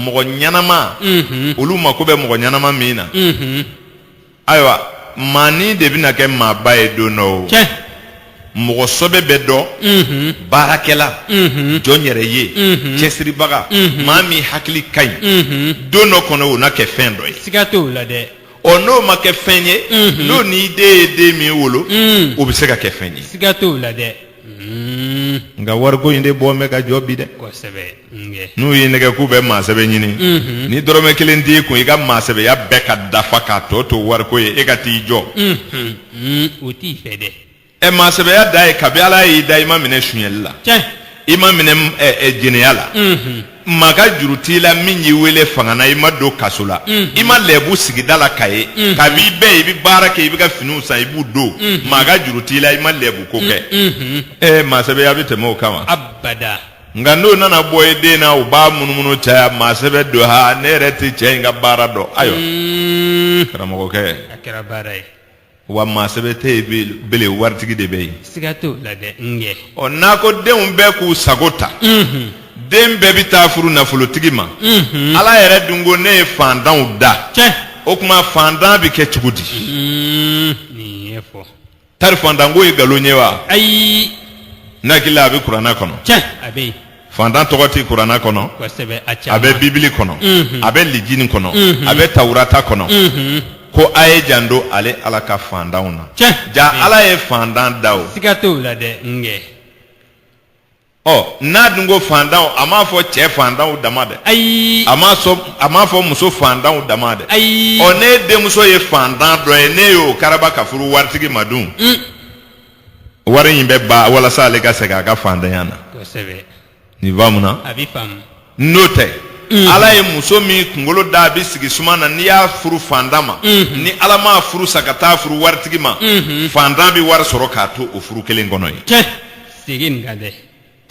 mɔgɔ ɲɛnama olu mako bɛ mɔgɔ ɲɛnama min na ayiwa maani de bɛna kɛ maaba ye don dɔ o tiɲɛ mɔgɔ sɔbɛ bɛ dɔn unhun baarakɛla unhun jɔn yɛrɛ ye Mhm. cɛsiribaga Mhm. maa min hakili ka ɲi unhun don dɔ kɔnɔ o na kɛ fɛn dɔ ye siga t'o la dɛ ɔ n'o ma kɛ fɛn ye Mhm. n'o n'i den ye den min wolo Mm. o bɛ se ka kɛ fɛn ye siga t'o la dɛ Mm. nka wariko in de bɔ bɛ ka jɔ bi dɛ kosɛbɛ nge n'u y'i nɛgɛn k'u bɛ maa sɛbɛ ɲini Mhm. ni dɔrɔmɛ kelen t'i kun i ka maa sɛbɛya bɛɛ ka dafa k'a tɔ to wariko ye e ka t'i jɔ Mhm. Mm, o t'i fɛ dɛ ɛ maa sɛbɛya dan ye kabi ala y'i da i ma minɛ sunyɛli la tiɲɛ i ma minɛ ɛ, ɛ, jɛnɛya la Mhm. maa ka juru t'i la min y'i wele fanga na i ma don kaso la i ma lɛbu sigida la k'a ye kab'i bɛ i bɛ baara kɛ i b'i ka finiw san i b'u don maa ka juru t'i la i ma lɛbuko kɛ ee maa sɛbɛya bɛ tɛmɛ o kan wa abada nka n'o nana bɔ i den na u b'a munumunu caya maa sɛbɛ don ha ne yɛrɛ tɛ cɛ in ka baara dɔn ayiwa karamɔgɔkɛ a kɛra baara ye wa maasɛbɛ tɛ yen bele- bele waritigi de bɛ yen siga t'o la dɛ n kɛ ɔ n'a ko denw bɛɛ k'u sago ta den bɛɛ bɛ taa furu nafolotigi ma ala yɛrɛ dun ko ne ye faantanw da cɛ o tuma faantan bɛ kɛ cogo di Mm, nin ye fɔ tari faantanko ye nkalon ye wa ayi ne hakili la a bɛ kuranna kɔnɔ cɛ a bɛ yen fantan tɔgɔ tɛ kuranna kɔnɔ a bɛ bibili kɔnɔ a bɛ lijini kɔnɔ a bɛ tawurata kɔnɔ ko a ye janto ale ala ka fantanw na ja ala ye fantan da o siga t'o la dɛ nkɛ ɔ n'a dun ko fantanw a m'a fɔ cɛ fantanw dama dɛ ayi a m'a sɔn a m'a fɔ muso fantanw dama dɛ ayi ɔ ne denmuso ye fantan dɔ ye ne y'o karaba ka furu waritigi ma dun wari in bɛ ban walasa ale ka segin a ka fantanya na kosɛbɛ nin faamuna a bɛ faamu n'o tɛ ala ye muso min kunkolo da a bɛ sigi suma na n'i y'a furu fantan ma ni ala m'a furu sa ka taa furu waritigi ma fantan bɛ wari sɔrɔ k'a to o furu kelen kɔnɔ ye cɛ segin nin kan dɛ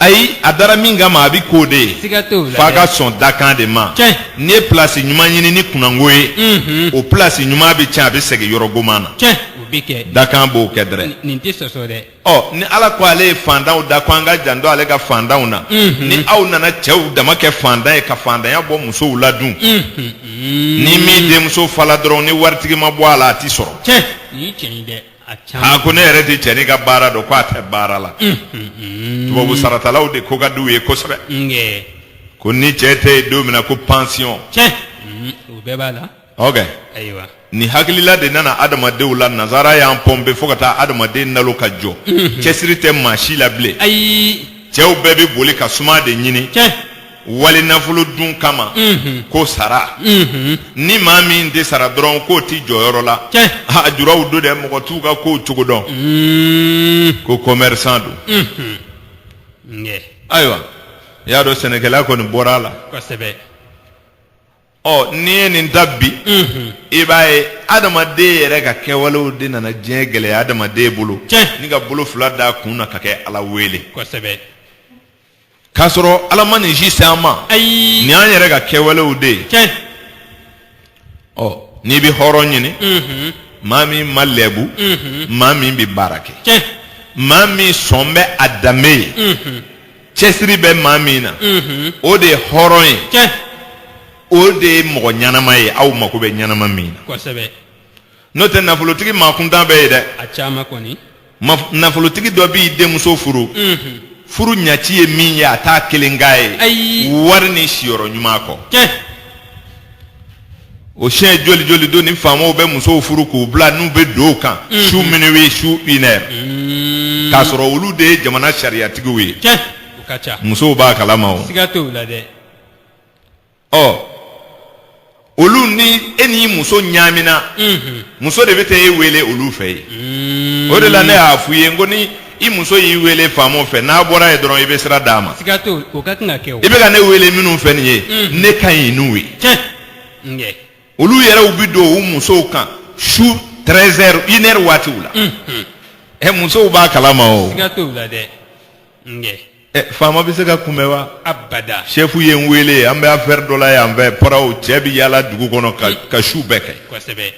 ayi a dara min kama a bɛ k'o de ye siga t'o la f'a ka sɔn dakan de ma Tiɲɛ. n'i ye pilasi ɲuman ɲini ni kunnango ye Mhm. o pilasi ɲuman bɛ tiɲɛ a bɛ segin yɔrɔ goman na tiɲɛ o bɛ kɛ dakan b'o kɛ dɛrɛ Nin- nin tɛ sɔsɔ dɛ ɔ ni ala ko ale ye fantanw da ko an ka janto ale ka fantanw na Mhm. ni aw nana cɛw dama kɛ fantan ye ka fantanya bɔ musow la dun Mhm. ni min denmuso fala dɔrɔn ni waritigi ma bɔ a la a tɛ sɔrɔ tiɲɛ nin ye tiɲɛ ye dɛ a ko ne yɛrɛ tɛ cɛnin ka baara dɔn k'a tɛ baara la tubabu saratalaw de ko ka di u ye kosɛbɛ ko ni cɛ tɛ yen don min na ko pansiyɔn o bɛɛ b'a la ok ayiwa nin hakilila de nana adamadenw la nazara y'an pɔnpe fo ka taa adamaden nalo ka jɔ cɛsiri tɛ maa si la bilen ayi cɛw bɛɛ bɛ boli ka suma de ɲini wali nafolo dun kama ko sara ni maa min tɛ sara dɔrɔn k'o tɛ jɔyɔrɔ la a juraw don dɛ mɔgɔ t'u ka kow cogo dɔn ko kɔmɛrisan don ayiwa i y'a dɔn sɛnɛkɛla kɔni bɔra a la kosɛbɛ ɔ n'i ye nin ta bi i b'a ye adamaden yɛrɛ ka kɛwalew de nana diɲɛ gɛlɛya adamaden bolo ni ka bolo fila d'a kun na ka kɛ ala wele k'a sɔrɔ ala ma nin si se an ma ayi nin y'an yɛrɛ ka kɛwalew de ye tiɲɛ ɔ n'i bɛ hɔrɔn ɲini Mhm. maa min ma lɛbu Mhm. maa min bɛ baara kɛ tiɲɛ maa min sɔn bɛ a danbe ye Mhm. cɛsiri bɛ maa min na Mhm. o de ye hɔrɔn ye tiɲɛ o de ye mɔgɔ ɲɛnama ye aw mako bɛ ɲɛnama min na kosɛbɛ n'o tɛ nafolotigi maakuntan bɛ yen dɛ a caman kɔni Ma- nafolotigi dɔ b'i denmuso furu furu ɲaci ye min ye a t'a kelen k'a ye Ayi. wari ni siyɔrɔ ɲuman kɔ tiɲɛ o siɲɛ joli joli don ni faamaw bɛ musow furu k'u bila n'u bɛ don u kan su minuit su une heure k'a sɔrɔ olu de ye jamana sariyatigiw ye tiɲɛ o ka ca musow b'a kalama o siga t'o la dɛ ɔ olu ni e n'i muso ɲaamina muso de bɛ taa e wele olu fɛ yen o de la ne y'a f'u ye n ko ni i muso y'i wele faama fɛ n'a bɔra yen dɔrɔn i bɛ sira d'a ma siga t'o o ka kan ka kɛ o i bɛ ka ne wele minnu fɛ nin ye ne ka ɲi n'u ye tiɲɛ ŋɛ olu yɛrɛw bɛ don u musow kan su 13 heures une heure waatiw la ɛ musow b'a kalama o siga t'o la dɛ ŋɛ ɛ faama bɛ se ka kunbɛn wa abada sɛfu ye n wele an bɛ affaire dɔ la yan fɛ paraw cɛ bɛ yaala dugu kɔnɔ ka ka su bɛɛ kɛ kosɛbɛ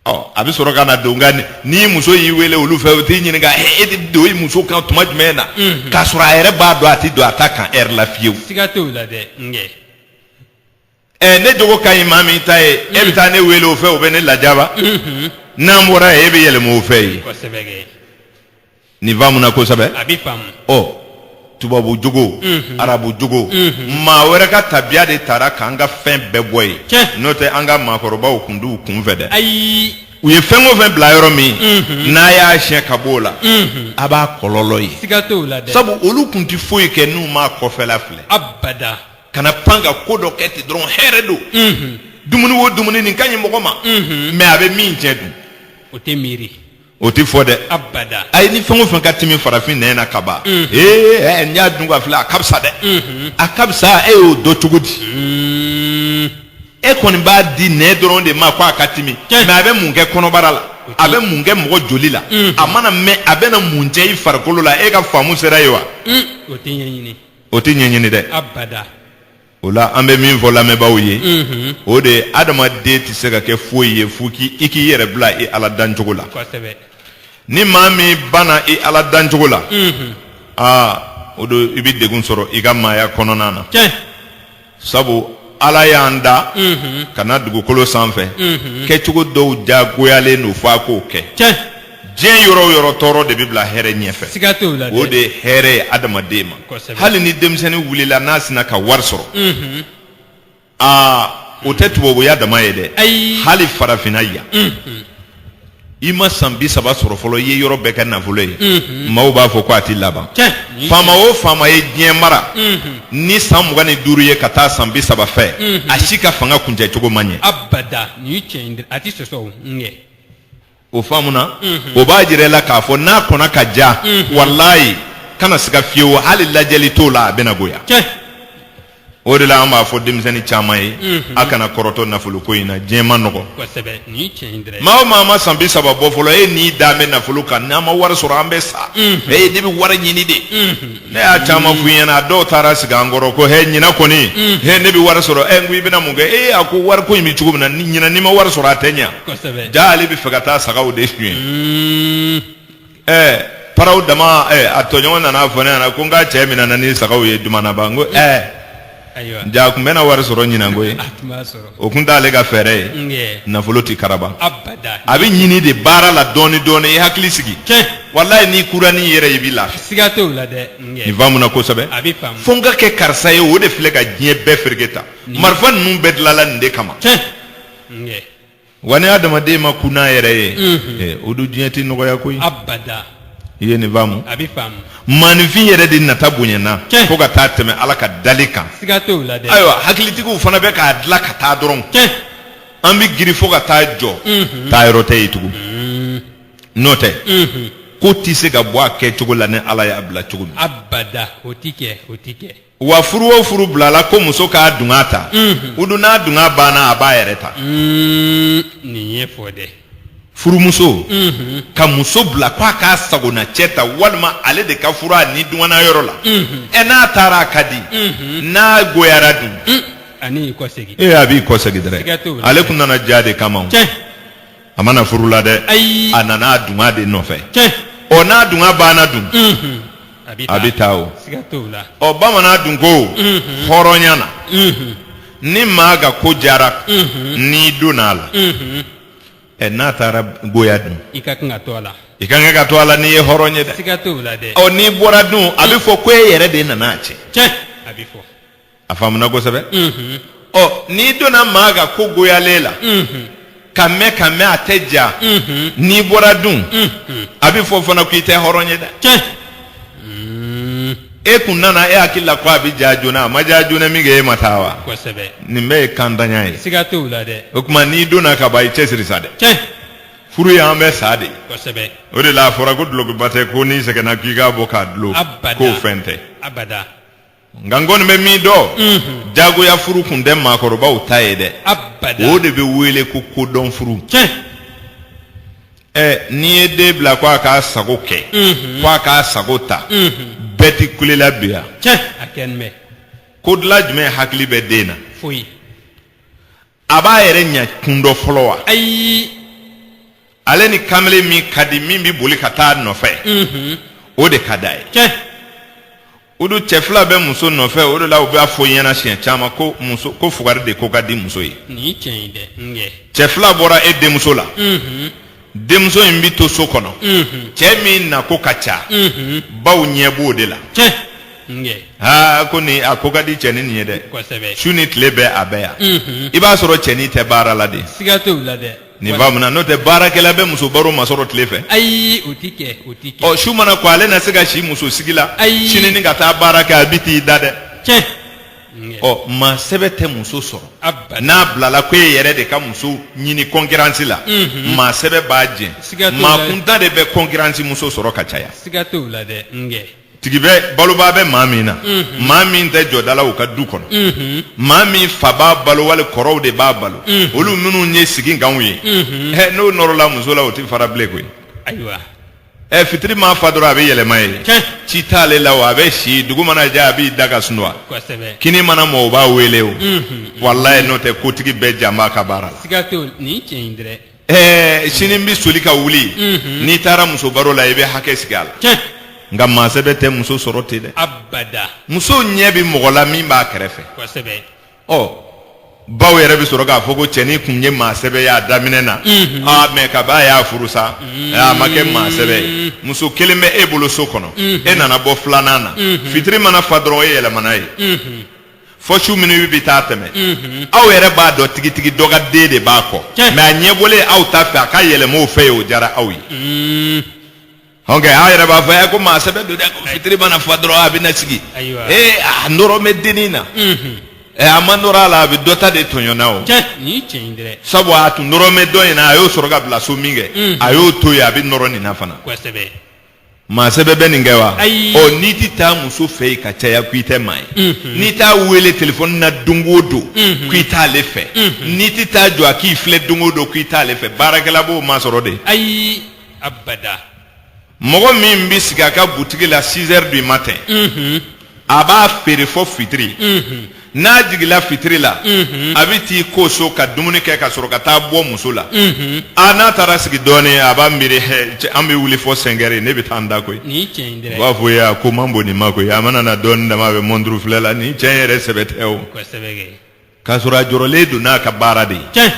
ɔ a bɛ sɔrɔ ka na don nka n'i muso y'i wele olu fɛ u t'i ɲininka e bɛ don i muso kan tuma jumɛn na k'a sɔrɔ a yɛrɛ b'a dɔn a tɛ don a ta kan heure la fiyewu siga t'o la dɛ n kɛ ɛ ne jogo ka ɲi maa min ta ye e bɛ taa ne wele o fɛ o bɛ ne lajaba n'an bɔra yen e bɛ yɛlɛma o fɛ yen kosɛbɛ kɛ nin faamuna kosɛbɛ a bɛ faamu ɔ tubabu jogo arabu jogo maa wɛrɛ ka tabiya de taara k'an ka fɛn bɛɛ bɔ yen Tiɲɛ. n'o tɛ an ka maakɔrɔbaw kun t'u kun fɛ dɛ ayi u ye fɛn o fɛn bila yɔrɔ min n'a y'a siɲɛ ka b'o la a b'a kɔlɔlɔ ye siga t'o la dɛ sabu olu kun tɛ foyi kɛ n'u m'a kɔfɛla filɛ abada kana pan ka ko dɔ kɛ ten dɔrɔn hɛrɛ don dumuni o dumuni nin ka ɲi mɔgɔ ma mɛ a bɛ min tiɲɛ dun o tɛ miiri o tɛ fɔ dɛ abada ayi ni fɛn o fɛn ka timi farafin nɛn na ka ban ee ɛ n y'a dun k'a filɛ a ka fisa dɛ a ka fisa e y'o dɔn cogo di e kɔni b'a di nɛn dɔrɔn de ma ko a ka timi Tiɲɛ. mɛ a bɛ mun kɛ kɔnɔbara la a bɛ mun kɛ mɔgɔ joli la a mana mɛn a bɛna mun tiɲɛ i farikolo la e ka faamu sera yen wa o tɛ ɲɛɲini o tɛ ɲɛɲini dɛ abada o la an bɛ min fɔ lamɛnbaaw ye Mhm. o de ye adamaden tɛ se ka kɛ foyi ye fo k'i i k'i yɛrɛ bila i ala dancogo la kosɛbɛ ni maa min banna i ala dancogo la Mhm. aa o don i bɛ degun sɔrɔ i ka maaya kɔnɔna na tiɲɛ sabu ala y'an da ka na dugukolo sanfɛ kɛcogo dɔw jagoyalen don f'a k'o kɛ diɲɛ yɔrɔ o yɔrɔ tɔɔrɔ de bɛ bila hɛrɛ ɲɛfɛ siga t'o la dɛ. o de ye hɛrɛ ye adamaden ma Kosɛbɛ. hali ni denmisɛnnin wulila n'a sina ka wari sɔrɔ Unhun. aa o tɛ tubabuya dama ye dɛ Ayi. hali farafinna yan i ma san bi saba sɔrɔ fɔlɔ i ye yɔrɔ bɛɛ kɛ nafolo ye maaw b'a fɔ ko a tɛ laban faama o faama ye diɲɛ mara ni san mugan ni duuru ye ka taa san bi saba fɛ a si ka fanga kuncɛ cogo ma ɲɛ abada nin tiɲɛ a tɛ sɔsɔ nge o faamuna o b'a jira la k'a fɔ n'a kɔnna ka ja walayi kana siga fiyewu hali lajɛli t'o la a bɛna goya o de la an b'a fɔ denmisɛnnin caman ye a kana kɔrɔtɔ nafolo ko in na diɲɛ man nɔgɔ maa o maa ma san bi saba bɔ fɔlɔ e n'i da bɛ nafolo kan n'an ma wari sɔrɔ an bɛ sa e ne bɛ wari ɲini de ne y'a caman f'u ɲɛna a dɔw taara sigi an kɔrɔ ko hɛ ɲinan kɔni hɛ ne bɛ wari sɔrɔ ɛ n ko i bɛna mun kɛ e a ko wari ko in bɛ cogo min na ɲinan n'i ma wari sɔrɔ a tɛ ɲɛ jaa ale bɛ fɛ ka taa sagaw de suɲɛ ɛɛ paraw dama ɛɛ a tɔɲɔgɔn nana fɔ ne ɲɛna ko n ka cɛ minɛna ni sagaw ye dumanaba n ko ɛɛ ayiwa jaa a tun bɛna wari sɔrɔ ɲinan koyi a tun b'a sɔrɔ o tun t'ale ka fɛɛrɛ ye Nge. nafolo tɛ karaba abada a bɛ ɲini de baara la dɔɔni dɔɔni i hakili sigi tiɲɛ walayi n'i kura n'i yɛrɛ ye, i b'i lafiya siga t'o la dɛ nin nge faamuna kosɛbɛ a bɛ faamu fo n ka kɛ karisa ye o de filɛ ka diɲɛ bɛɛ fereke tan Nin- marifa ninnu bɛɛ dilala nin de kama tiɲɛ nge wa ni adamaden ma kun n'a yɛrɛ ye eh, o dun diɲɛ tɛ nɔgɔya koyi abada i ye nin faamu a bɛ faamu maaninfin yɛrɛ de nata bonyana Tiɲɛ. fo ka taa tɛmɛ ala ka dali kan siga t'o la dɛ ayiwa hakilitigiw fana bɛ k'a dilan ka taa dɔrɔn tiɲɛ an bɛ girin fo ka taa jɔ taa yɔrɔ tɛ yen tugun n'o tɛ ko tɛ se ka bɔ a kɛcogo la ni ala y'a bila cogo min abada o ti kɛ o ti kɛ wa furu o furu bilala ko muso k'a dunga ta o dun n'a dunga banna a b'a yɛrɛ ta Mm, nin ye fɔ dɛ furumuso ka muso bila ko a k'a sagona cɛ ta walima ale de ka furu a ni dungana yɔrɔ la ɛ n'a taara a ka di n'a goyara dun a n'i kɔ segin ee a b'i kɔ segin Siga t'o dɛrɛ la. ale kun nana ja de kama o. cɛ a ma na furu la dɛ Ayi. a nana a dunga de nɔfɛ tiɲɛ ɔ n'a dunga banna dun Mhm. a bɛ a bɛ taa o siga t'o la ɔ bamanan dun ko hɔrɔnya na Mhm. ni maa ka ko jara n'i donna a la Mhm. ɛ n'a taara goya dun i ka kan ka to a la i ka kan ka to a la n'i ye hɔrɔn ye dɛ siga t'o la dɛ ɔ n'i bɔra dun a bɛ fɔ ko e yɛrɛ de nana a cɛn tiɲɛ a bɛ fɔ a faamuna kosɛbɛ ɔ n'i donna maa ka ko goyalen la ka mɛn ka mɛn a tɛ ja n'i bɔra dun a bɛ fɔ fana ko i tɛ hɔrɔn ye dɛ tiɲɛ e kun nana e hakili la ko a bɛ ja joona a ma ja joona min kɛ e ma taa wa kosɛbɛ nin bɛɛ ye kantanya ye siga t'o la dɛ o tuma n'i donna ka ban i cɛsiri sa dɛ tiɲɛ furu y'an bɛ sa de ye kosɛbɛ o de la a fɔra ko dulokiba tɛ ko n'i sɛgɛnna k'i k'a bɔ k'a dulon abada k'o fɛn tɛ abada nka n kɔni bɛ min dɔn jagoya furu kun tɛ maakɔrɔbaw ta ye dɛ abada o de bɛ wele ko kodɔn furu tiɲɛ ɛ n'i ye den bila ko a k'a sago kɛ ko a k'a sago ta bɛɛ tɛ kule la bi yan tiɲɛ a kɛ n bɛ ko dilan jumɛn hakili bɛ den na foyi a b'a yɛrɛ ɲɛ kun dɔn fɔlɔ wa ayi ale ni kamalen min ka di min bɛ boli ka taa a nɔfɛ mhm. o de ka d'a ye tiɲɛ o dun cɛ fila bɛ muso nɔfɛ o de la u b'a fɔ ɲɛna siɲɛ caman ko muso ko fugari de ko ka di muso ye nin ye tiɲɛ ye dɛ n kɛ cɛ fila bɔra e denmuso la mhm. denmuso in bɛ to so kɔnɔ cɛ min na ko ka ca baw ɲɛ b'o de la aa ko nin a ko ka di cɛnin nin ye dɛ su ni tile bɛɛ a bɛ yan i b'a sɔrɔ cɛnin tɛ baara la de nin faamuna n'o tɛ baarakɛla bɛ muso baro masɔrɔ tile fɛ ayi o tɛ kɛ o tɛ kɛ ɔ su mana ko ale na se ka si muso sigi la ayi sini ka taa baara kɛ a bɛ t'i da dɛ ɔ maa sɛbɛ tɛ muso sɔrɔ n'a bilala ko e yɛrɛ de ka muso ɲini kɔnkiransi la mhm. maa sɛbɛ b'a jɛn maa kuntan de bɛ kɔnkiransi muso sɔrɔ ka caya tigi bɛ balobaa bɛ maa min na mhm. maa min tɛ jɔda la u ka du kɔnɔ mhm. maa min fa b'a balo wali kɔrɔw de b'a balo olu minnu ye sigi kanw ye n'o nɔrɔla muso la o tɛ fara bilen koyi ɛ fitiri ma fa dɔrɔn a bɛ yɛlɛma yen Tiɲɛ. ci t'ale la o a bɛ si dugu mana jɛ a b'i da ka sunwa kosɛbɛ kini mana mɔ o b'a wele o Mhm. walayi n'o tɛ kotigi bɛɛ jan b'a ka baara la siga t'o nin ye tiɲɛ ye dɛrɛ ɛɛ sini n bɛ soli ka wuli Mhm. n'i taara muso baro la i bɛ hakɛ sigi a la tiɲɛ nka maa sɛbɛ tɛ muso sɔrɔ ten dɛ abada muso ɲɛ bɛ mɔgɔ la min b'a kɛrɛfɛ kosɛbɛ ɔ baw yɛrɛ bɛ sɔrɔ k'a fɔ ko cɛnin kun ye maa sɛbɛ y'a daminɛ na aa mɛ kab'a y'a furu sa a ma kɛ maa sɛbɛ ye muso kelen bɛ e bolo so kɔnɔ e nana bɔ filanan na fitiri mana fa dɔrɔn e yɛlɛmana yen fɔ su minuit bɛ taa tɛmɛ aw yɛrɛ b'a dɔn tigitigi dɔ ka den de b'a kɔ Tiɲɛ. mɛ a ɲɛ bɔlen aw ta fɛ a ka yɛlɛma o fɛ yen o diyara aw ye ɔ n kɛ aw yɛrɛ b'a fɔ ɛ ko maa sɛbɛ don dɛ ko fitiri mana fa dɔrɔn a bɛ na sigi Ayiwa. ee a nɔrɔ bɛ dennin na unhun ɛ a ma nɔrɔ a la a bɛ dɔ ta de tɔɲɔna o tiɲɛ nin ye tiɲɛ ye dɛ sabu a tun nɔrɔ bɛ dɔ in na a y'o sɔrɔ ka bila so min kɛ Mm. a y'o to yen a bɛ nɔrɔ nin na fana kosɛbɛ maa sɛbɛ bɛ nin kɛ wa Ayi. ɔ n'i tɛ taa muso fɛ yen ka caya ko i tɛ maa ye Unhun. n'i t'a wele telefɔni na don o don Unhun. ko i t'ale fɛ Unhun. n'i tɛ taa jɔ a k'i filɛ don o don ko i t'ale fɛ baarakɛla b'o masɔrɔ de ayi abada mɔgɔ min bɛ sigi a ka butigi la 6 heures du matin mhm. a b'a feere fɔ fitiri mhm. n'a jigila fitiri la mhm. a bɛ t'i ko so ka dumuni kɛ ka sɔrɔ ka taa bɔ muso la a n'a taara sigi dɔɔnin a b'a miiri hɛ an bɛ wuli fɔ 5 heures ne bɛ taa n da koyi u b'a fɔ ya ko man bon nin ma koyi a mana na dɔɔnin dama a bɛ mɔnturu filɛ la nin cɛ in yɛrɛ sɛbɛ tɛ o. k'a sɔrɔ a jɔrɔlen don n'a ka baara de ye tiɲɛ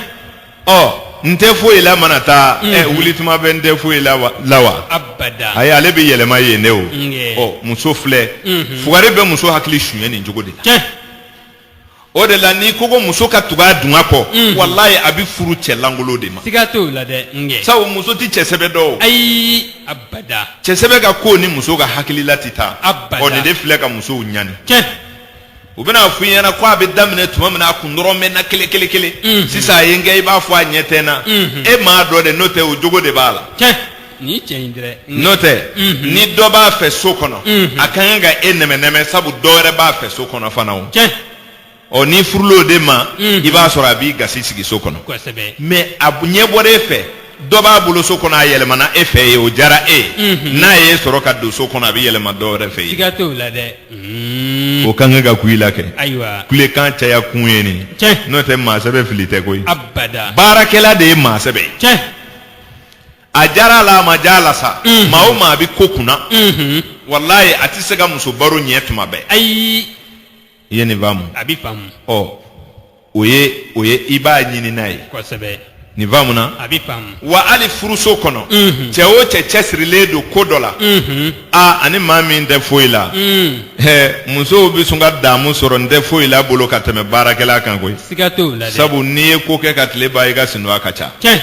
ɔ n tɛ foyi la mana taa ɛ wuli tuma bɛ n tɛ foyi la la wa abada ayi ale bɛ yɛlɛma yen de o n kɛ. ɔ muso filɛ fugari bɛ muso hakili suɲɛ nin cogo de la tiɲɛ o de la n'i ko ko muso ka tugu a dungɔ kɔ walayi a bɛ furu cɛ lankolon de ma siga t'o la dɛ n kɛ sabu muso tɛ cɛ sɛbɛ dɔn ayi abada cɛ sɛbɛ ka ko ni muso ka hakilila tɛ taa Abada. ɔ nin de filɛ ka musow ɲani tiɲɛ u bɛn'a fɔ i ɲɛna ko a bɛ daminɛ tuma min na a kun nɔrɔ bɛ n na kelen kelen kelen sisan a ye n kɛ i b'a fɔ a ɲɛ tɛ n na e m'a dɔn de n'o tɛ o jogo de b'a la tiɲɛ nin ye tiɲɛ ye dɛrɛ n'o tɛ ni dɔ b'a fɛ so kɔnɔ a ka kan ka e nɛmɛnɛmɛ sabu dɔ wɛrɛ b'a fɛ so kɔnɔ fana o tiɲɛ ɔ n'i furula o de ma i b'a sɔrɔ a b'i gasi sigi so kɔnɔ kosɛbɛ mɛ a ɲɛ bɔra e fɛ dɔ b'a bolo so kɔnɔ a yɛlɛmana e fɛ yen o jara e ye mhm. n'a y'e sɔrɔ ka don so kɔnɔ a bɛ yɛlɛma dɔ wɛrɛ fɛ yen siga t'o la dɛ mhm. o ka kan ka kuya i la kɛ ayiwa kulekan caya kun ye nin tiɲɛ n'o tɛ maa sɛbɛ fili tɛ koyi abada baarakɛla de ye maa sɛbɛ ye tiɲɛ a jara a la a ma ja a la sa mhm. maa o maa a bɛ ko kunna walayi a tɛ se ka muso baro ɲɛ tuma bɛɛ ayi i ye nin faamu a bɛ faamu ɔ o ye o ye i b'a ɲini n'a ye kosɛbɛ nin faamu na a bɛ faamu wa hali furuso kɔnɔ Mhm. cɛ o cɛ cɛsirilen don ko dɔ la unhun a ani maa min tɛ foyi la un Hɛ, musow bɛ sɔn ka damu sɔrɔ n tɛ foyi la bolo ka tɛmɛ baarakɛla kan koyi siga t'o la dɛ sabu n'i ye ko kɛ ka tile ban i ka sinɔgɔ ka ca tiɲɛ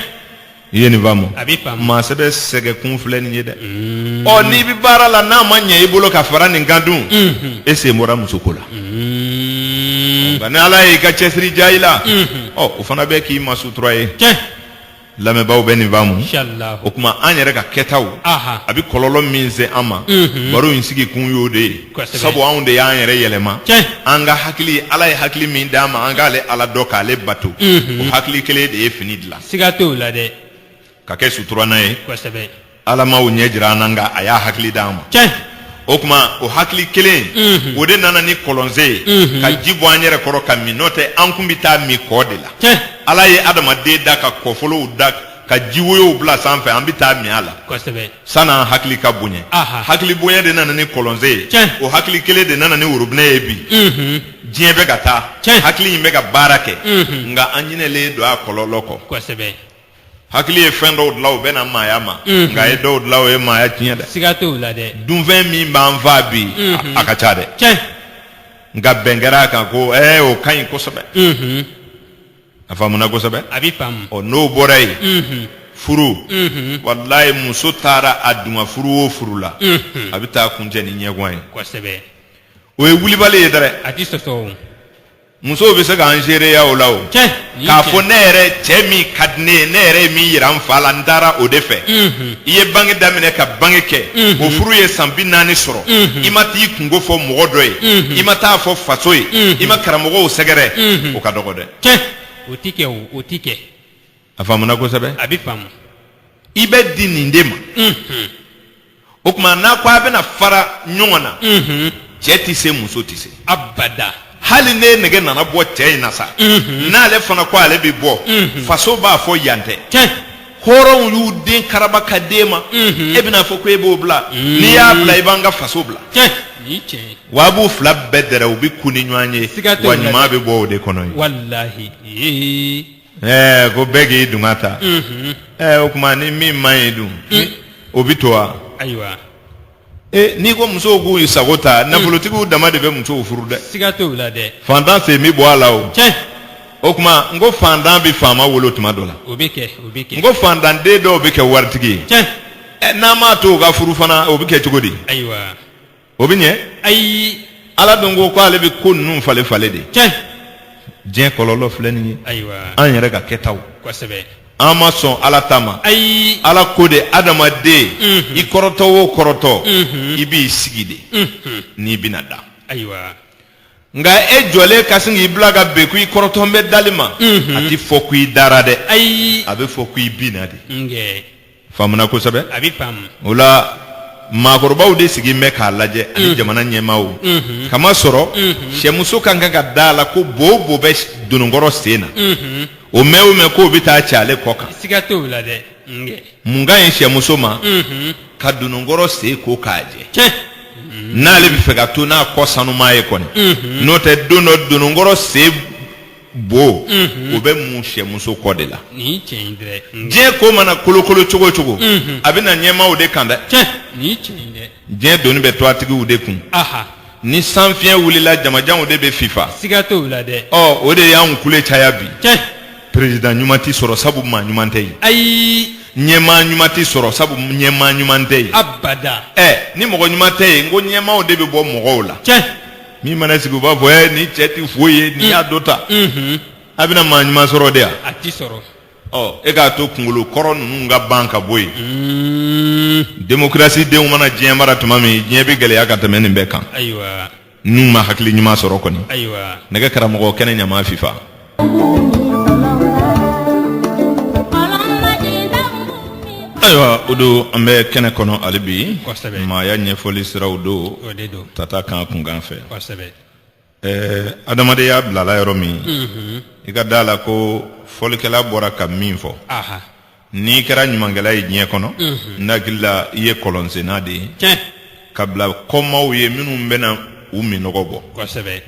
i ye nin faamu A b'i faamu. maa sɛbɛ sɛgɛn kun filɛ nin ye dɛ ɔ n'i bɛ baara la n'a ma ɲɛ i bolo ka fara nin kan dun e sen bɔra muso ko la nka ni ala y'i ka cɛsiri diya i la ɔ o fana bɛ k'i ma sutura ye tiɲɛ lamɛnbaaw bɛ nin faamu inshallah o tuma an yɛrɛ ka kɛtaw Aha. a bɛ kɔlɔlɔ min se an ma baro in sigi kun y'o de ye Kosɛbɛ. sabu anw de y'an yɛrɛ yɛlɛma Tiɲɛ. an ka hakili ala ye hakili min d'an ma an k'ale ala dɔn k'ale bato o hakili kelen de ye fini dilan siga t'o la dɛ ka kɛ suturana ye kosɛbɛ ala m'o ɲɛ jira an na nka a y'a hakili d'an ma tiɲɛ o tuma o hakili kelen Mhm. o de nana ni kɔlɔnsen ye Mhm. ka ji bɔ an yɛrɛ kɔrɔ ka min n'o tɛ an kun bɛ taa min kɔ de la tiɲɛ ala ye adamaden da ka kɔfolonw da ka ji woyow bila sanfɛ an bɛ taa min a la kosɛbɛ sann'an hakili ka bonya hakili bonya de nana ni kɔlɔnsen ye o hakili kelen de nana ni worobinɛ ye bi diɲɛ bɛ ka taa hakili in bɛ ka baara kɛ nka an ɲinɛlen don a kɔlɔlɔ kɔ kosɛbɛ hakili ye fɛn dɔw dilan o bɛnna maaya ma nka a ye dɔw dilan o ye maaya tiɲɛ dɛ siga t'o la dɛ dunfɛn min b'an faa bi a ka ca dɛ nka bɛn kɛra a kan ko o ka ɲi kosɛbɛ a faamuna kosɛbɛ a bɛ faamu ɔ n'o bɔra yen Mhm. furu Mhm. walayi muso taara a duman furu o furu la Mhm. a bɛ taa kuncɛ ni ɲɛgan ye kosɛbɛ o ye wulibali ye dɛrɛ a tɛ sɔsɔ o musow bɛ se k'an seereya o la o tiɲɛ nin k'a tiɲɛ. fɔ ne yɛrɛ cɛ min ka di ne ye ne yɛrɛ ye min yira n fa la n taara o de fɛ Mhm. i ye bange daminɛ ka bange kɛ mhm. o furu ye san bi naani sɔrɔ mhm. i ma t'i kunko fɔ mɔgɔ dɔ ye mhm. i ma t'a fɔ faso ye i ma karamɔgɔw sɛgɛrɛ o ka dɔgɔ dɛ tiɲɛ o ti kɛ o ti kɛ a faamuna kosɛbɛ a bɛ faamu i bɛ di nin de ma o tuma n'a ko a bɛna fara ɲɔgɔn na cɛ tɛ se muso tɛ se abada hali ne nɛgɛ nana bɔ cɛ in na sa n'ale fana ko ale bɛ bɔ faso b'a fɔ yan tɛ tiɲɛ hɔrɔnw y'u den karaba ka d'e ma e bɛna fɔ ko e b'o bila n'i y'a bila i b'an ka faso bila wa a b'u fila bɛɛ dɛrɛ u bɛ kun ni ɲɔgɔn ye wa ɲuman bɛ bɔ o de kɔnɔ ye ɛɛ ko bɛɛ k'i dunga ta o tuma ni min man ɲi dun o bɛ to wa Ee n'i ko musow k'u sago ta nafolotigiw dama de bɛ musow furu dɛ siga t'o la dɛ fantan sen bɛ bɔ a la o cɛ o tuma n ko fantan bɛ faama wolo tuma dɔ la o bɛ kɛ o bɛ kɛ n ko fantanden dɔw bɛ kɛ waritigi ye cɛ ɛ n'an m'a to u ka furu fana o bɛ kɛ cogo di ayiwa o bɛ ɲɛ ayi ala dun ko k'ale bɛ ko ninnu falen falen de cɛ diɲɛ kɔlɔlɔ filɛ nin ye ayiwa an yɛrɛ ka kɛtaw kosɛbɛ an ma sɔn ala ta ma ayi ala ko de adamaden mhm. i kɔrɔtɔ o kɔrɔtɔ mhm. i b'i sigi de mhm. n'i bɛna da ayiwa nka e jɔlen ka sin k'i bila ka bin ko i kɔrɔtɔlen bɛ dali ma a tɛ fɔ ko i dara dɛ ayi a bɛ fɔ ko i binna de faamuna kosɛbɛ a bɛ faamu o la maakɔrɔbaw de sigilen bɛ k'a lajɛ ani mm. jamana ɲɛmaaw mm-hmm. k'a masɔrɔ mm-hmm. sɛmuso ka kan ka da a la ko bo o bo bɛ dononkɔrɔ sen na mm-hmm. o mɛn o mɛn k'o bɛ taa cɛ ale kɔ kan siga t'o la dɛ mun ka ɲi sɛmuso ma ka dononkɔrɔ sen ko k'a jɛ n'ale bɛ fɛ ka to n'a kɔ sanuman ye kɔni n'o tɛ don dɔ dononkɔrɔ sen bo o bɛ mun sɛmuso kɔ de la diɲɛ ko mana kolokolo cogo cogo a bɛ na ɲɛmaaw de kan dɛ diɲɛ doni bɛ tɔgɔtigiw de kun ni sanfiɲɛ wulila jamajanw de bɛ fifa siga t'o la dɛ o de y'an kule caya bi perezidan ɲuman tɛ sɔrɔ sabu maa ɲuman tɛ yen ayi ɲɛmaa ɲuman tɛ sɔrɔ sabu ɲɛmaa ɲuman tɛ yen abada ni mɔgɔ ɲuman tɛ yen n ko ɲɛmaaw de bɛ bɔ mɔgɔw la min mana sigi u b'a fɔ ɛ nin cɛ tɛ foyi ye nin y'a dɔ ta a bɛna maa ɲuman sɔrɔ de yan a ti sɔrɔ ɔ e k'a to kungolo kɔrɔ ninnu ka ban ka bɔ yen demokrasi denw mana diɲɛ mara tuma min diɲɛ bɛ gɛlɛya ka tɛmɛ nin bɛɛ kan ayiwa n'u ma hakili ɲuman sɔrɔ kɔni ayiwa nɛgɛ karamɔgɔ kɛnɛ ɲama fifa Ayiwa o don an bɛ kɛnɛ kɔnɔ hali bi maaya ɲɛfɔli siraw don tata kan kunkan fɛ adamadenya bilala yɔrɔ min i ka da a la ko fɔlikɛla bɔra ka min fɔ n'i kɛra ɲumankɛla ye diɲɛ kɔnɔ n hakili la i ye kɔlɔnsenna de ye tiɲɛ ka bila kɔmaw ye minnu bɛna u minnɔgɔ bɔ kosɛbɛ